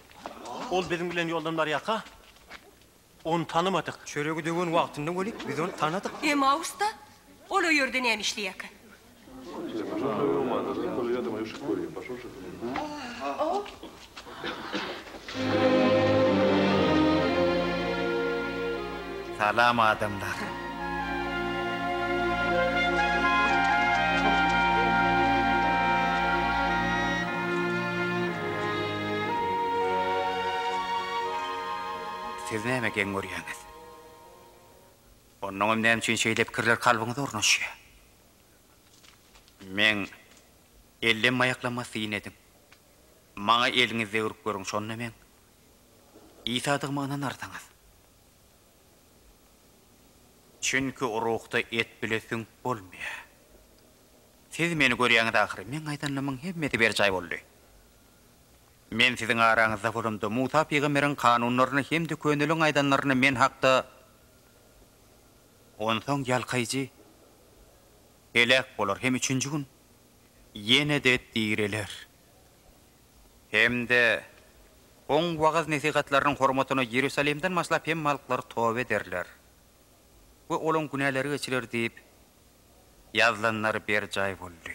Ol biziň bilen ýoldan barýarka. Ony tanymadyk. Çöregi döwen wagtynda weli, biz ony tanadyk. Emausda? Ol o ýerde näme işleýärkä? Salam adamlar. Siz näme geň görýäňiz? Onnoňam näme üçin şeýle pikirler kalbyňyza ornaşýar? Men ellem-aýaklama syn ediň. Maňa eliňizi degirip görüň, şonda meň Isadygyma ynanarsyňyz. Çünki ruhda et bile süňk bolmaýar. Siz Meni görýäňiz ahyry. Meň aýdanlarymyň hemmesi berjaý boldy. Men siziň araňyzda bolamda, Musa pygamberiň kanunlaryny hem-de köneligiň aýdanlaryny men hakda. Onsoň ýalkaýjy heläk bolar hem üçünji gün ýene-de direler. Hem-de Oň wagyz-nesihatlarynyň hormatyna Iýerusalimden başlap hemme halklar toba ederler we olaryň günäleri geçiler diýip ýazylanlar berjaý boldy.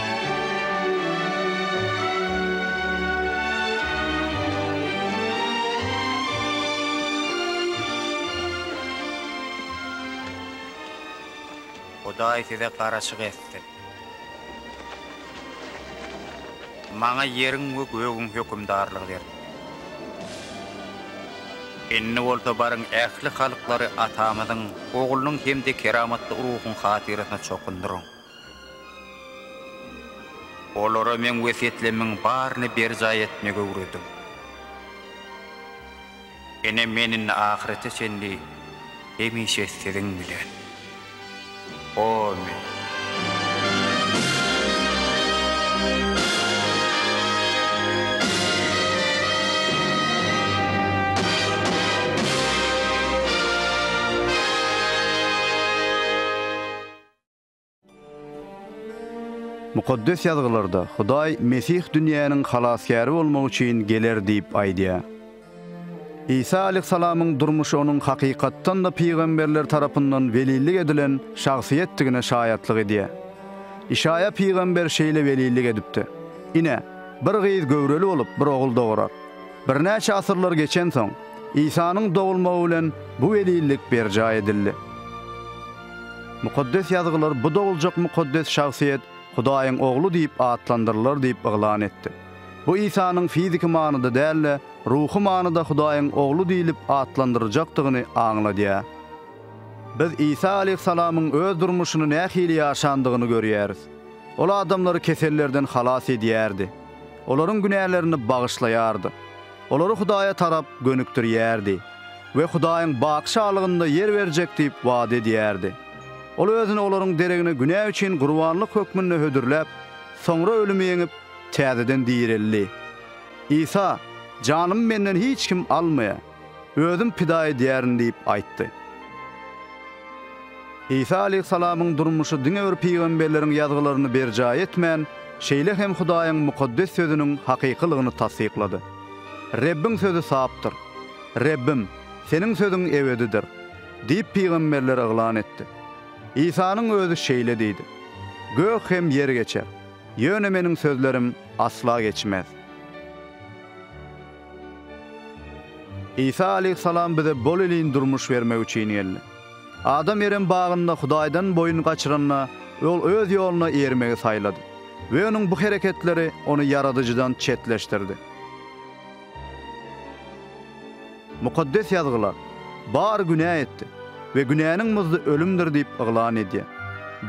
Hudaý size garaşyk etsin. Maňa ýeriň we gögüň hökümdarlygy berdi. Indi bolsa baryň ähli halklary Atamyzyň, Oglunyň hem-de keramatly Ruhuň hatyrasyna çokundyryň. Olara Meň wesýetlemiň baryny berjaý etmegi öwrediň. Ine, Men indi ahyrete çenli hemişe siziň bilen. Amin. Mukaddes Ýazgylarda Hudaý Mesih dünýäniň Halasgäri bolmak üçin geler diýip aýdýar. Isa aleýhissalamyň durmuşy onuň hakykatdan-da pygamberler tarapyndan welillik edilen şahsyýetdigine şaýatlyk edýär. Işaýa pygamber şeýle welillik edipdi, Ine, bir gyz göwreli bolup, bir ogul dogurar. Birnäçe asyrlar geçensoň, Isanyň dogulmagy bilen bu welillik berjaý edildi. Mukaddes Ýazgylar bu doguljak mukaddes şahsyýet Hudaýyň Ogly diýip atlandyrylar diýip yglan etdi. Bu Isanyň fiziki manyda däl-de, ruhy manyda Hudaýyň Ogly diýlip atlandyryjakdygyny aňladýar. Biz Isa aleýhissalamyň öz durmuşyny nähili ýaşandygyny görýäris. Ol adamlary kesellerden halas edýärdi. Olaryň günälerini bagyşlaýardy. olary Hudaýa tarap gönükdirýärdi we Hudaýyň baky şalygynda ýer berjek diýip wada edýärdi. Ol özüni olaryň deregine günä üçin gurbanlyk hökmünde hödürläp, soňra ölümi ýeňip, täzeden direldi. Isa, Janymy menden hiç kim almaýa. Özüm pida edýärin diýip aýtdy. Isa aleýhissalamyň durmuşy diňe bir pygamberleriň ýazgylaryny berjaý etmän, şeýle hem Hudaýyň mukaddes Sözüniň hakykylygyny tassyklady. Rebbiň sözi sapdyr. Rebbim, Seniň sözüň ebedidir! diýip pygamberler yglan etdi. Isanyň özi şeýle diýdi, Gök hem ýer geçer, ýöne Meniň sözlerim asla geçmez. Isa aleýhissalam bize bolelin durmuş bermek üçin geldi. Adam Erem bagynda Hudaýdan boýun gaçyranda, ol öz ýoluna eýermegi saýlady we onuň bu hereketleri ony Ýaradyjydan çetleşdirdi. Mukaddes Ýazgylar, Bar günä etdi we günäniň muzdy ölümdir diýip yglan edýär.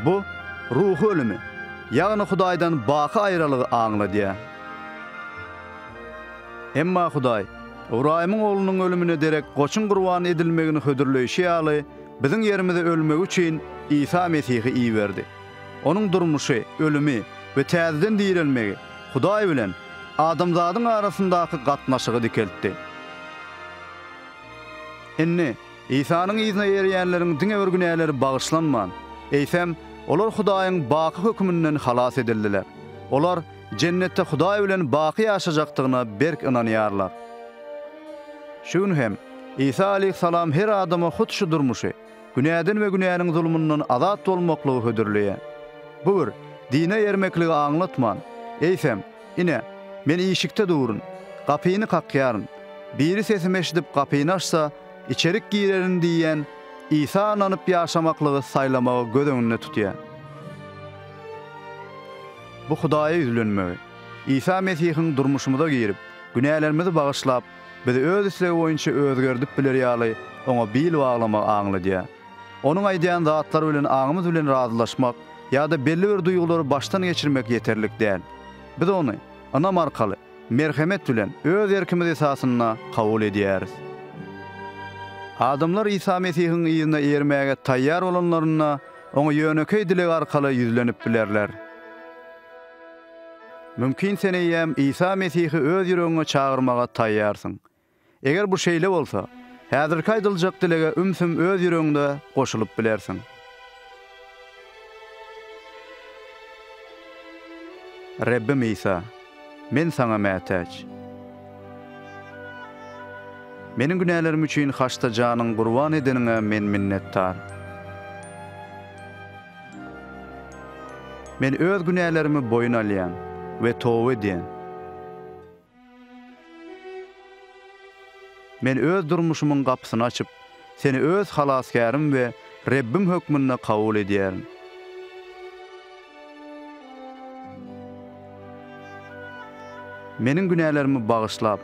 Bu, ruhy ölümi, ýagny Hudaýdan baky aýralygy aňladýar. Emma Hudaý, Ybraýymyň oglunyň ölümine derek goçuň gurban edilmegini hödürleýşi ýaly, biziň ýerimize ölmegi üçin Isa Mesihi iberdi. Onuň durmuşy, ölümi we täzeden direlmegi Hudaý bilen adamzadyň arasyndaky gatnaşygy dikeltdi. Indi, Isanyň yzyna erýänleriň diňe bir günäleri bagyşlanman, eýsem, olar Hudaýyň baky höküminden halas edildiler. Olar, Jennetde Hudaý bilen baky ýaşajakdygyna berk ynanýarlar. Şu gün hem, Isa aleýhissalam her adama hut şu durmuşy, günäden we günäniň zulmundan azat bolmaklygy hödürleýär. Bu bir dine ermekligi aňlatman, eýsem, Ine, Men işikde durun, gapyny kakýaryn. Biri sesimi eşidip gapyny açsa, içerik girerin diýýän Isa ynanyp ýaşamaklygy saýlamagy göz öňünde tutýar. Bu Hudaýa ýüzlenmegi, Isa Mesihiň durmuşymyza girip, günälerimizi bagyşlap, bizi öz islegi boýunça özgerdip bileri ýaly oňa bil baglamagy aňladýar. Onuň aýdýan zatlary bilen aňymyz bilen razylaşmak ýa-da belli bir duýgulary başdan geçirmek ýeterlik däl. Biz ony ynam arkaly, merhemet bilen, öz erkimiz esasynda kabul edýäris. Adamlar Isa Mesihiň yzyna ermäge taýýar bolanlarynda, Oňa ýönekeý dileg arkaly ýüzlenip bilerler. Mümkin sen eýýäm Isa Mesihi öz ýüregiňe çagyrmaga taýýarsyň. Eger bu şeýle bolsa, häzirki aýdyljak dilege ümsüm öz ýüregiňde goşulyp bilersiň. Rebbim Isa! Men Saňa mätäç. Meniň günälerim üçin haçda janyň gurban edeniňe men minnetdar. Men öz günälerimi boýun alýan we toba edýän. Men öz durmuşymyň gapysyny açyp, Seni öz Halasgärim we Rebbim hökmünde kabul edýärin. Meniň günälerimi bagyşlap,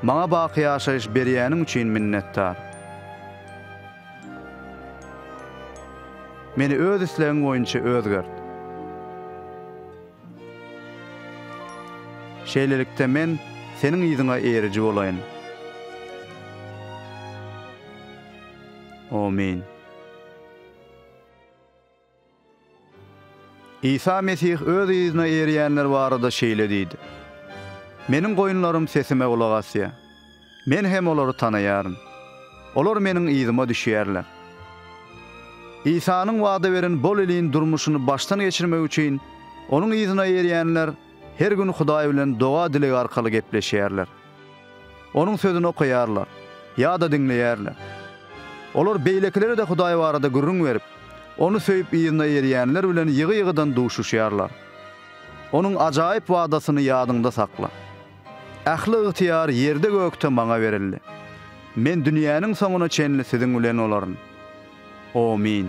maňa baky ýaşaýyş berýäniň üçin minnetdar. Meni öz islegiň boýunça özgert. Şeýlelikde, men Seniň yzyňa eriji bolaýyn. Amin. Isa Mesih Öz yzyna erýänler barada şeýle diýdi, Meniň goýunlarym sesime gulak asýar. Men hem olary tanaýaryn. Olar Meniň yzyma düşýärler. Isanyň wada beren bol iliň durmuşyny başdan geçirmek üçin Onuň yzyna erýänler her gün Hudaý bilen doga-dileg arkaly gepleşýärler. Onuň Sözüni okaýarlar ýa-da diňleýärler. Olar beýlekilere-de Hudaý barada gürrüň berip, Ony söýüp yzyna erýänler bilen ýygy-ýygydan duşuşýarlar. Onuň ajaýyp wadasyny ýadyňda sakla. Ähli ygtyýar ýerde-gökde Maňa berildi. Men dünýäniň soňuna çenli siziň bilen bolaryn. Omyn.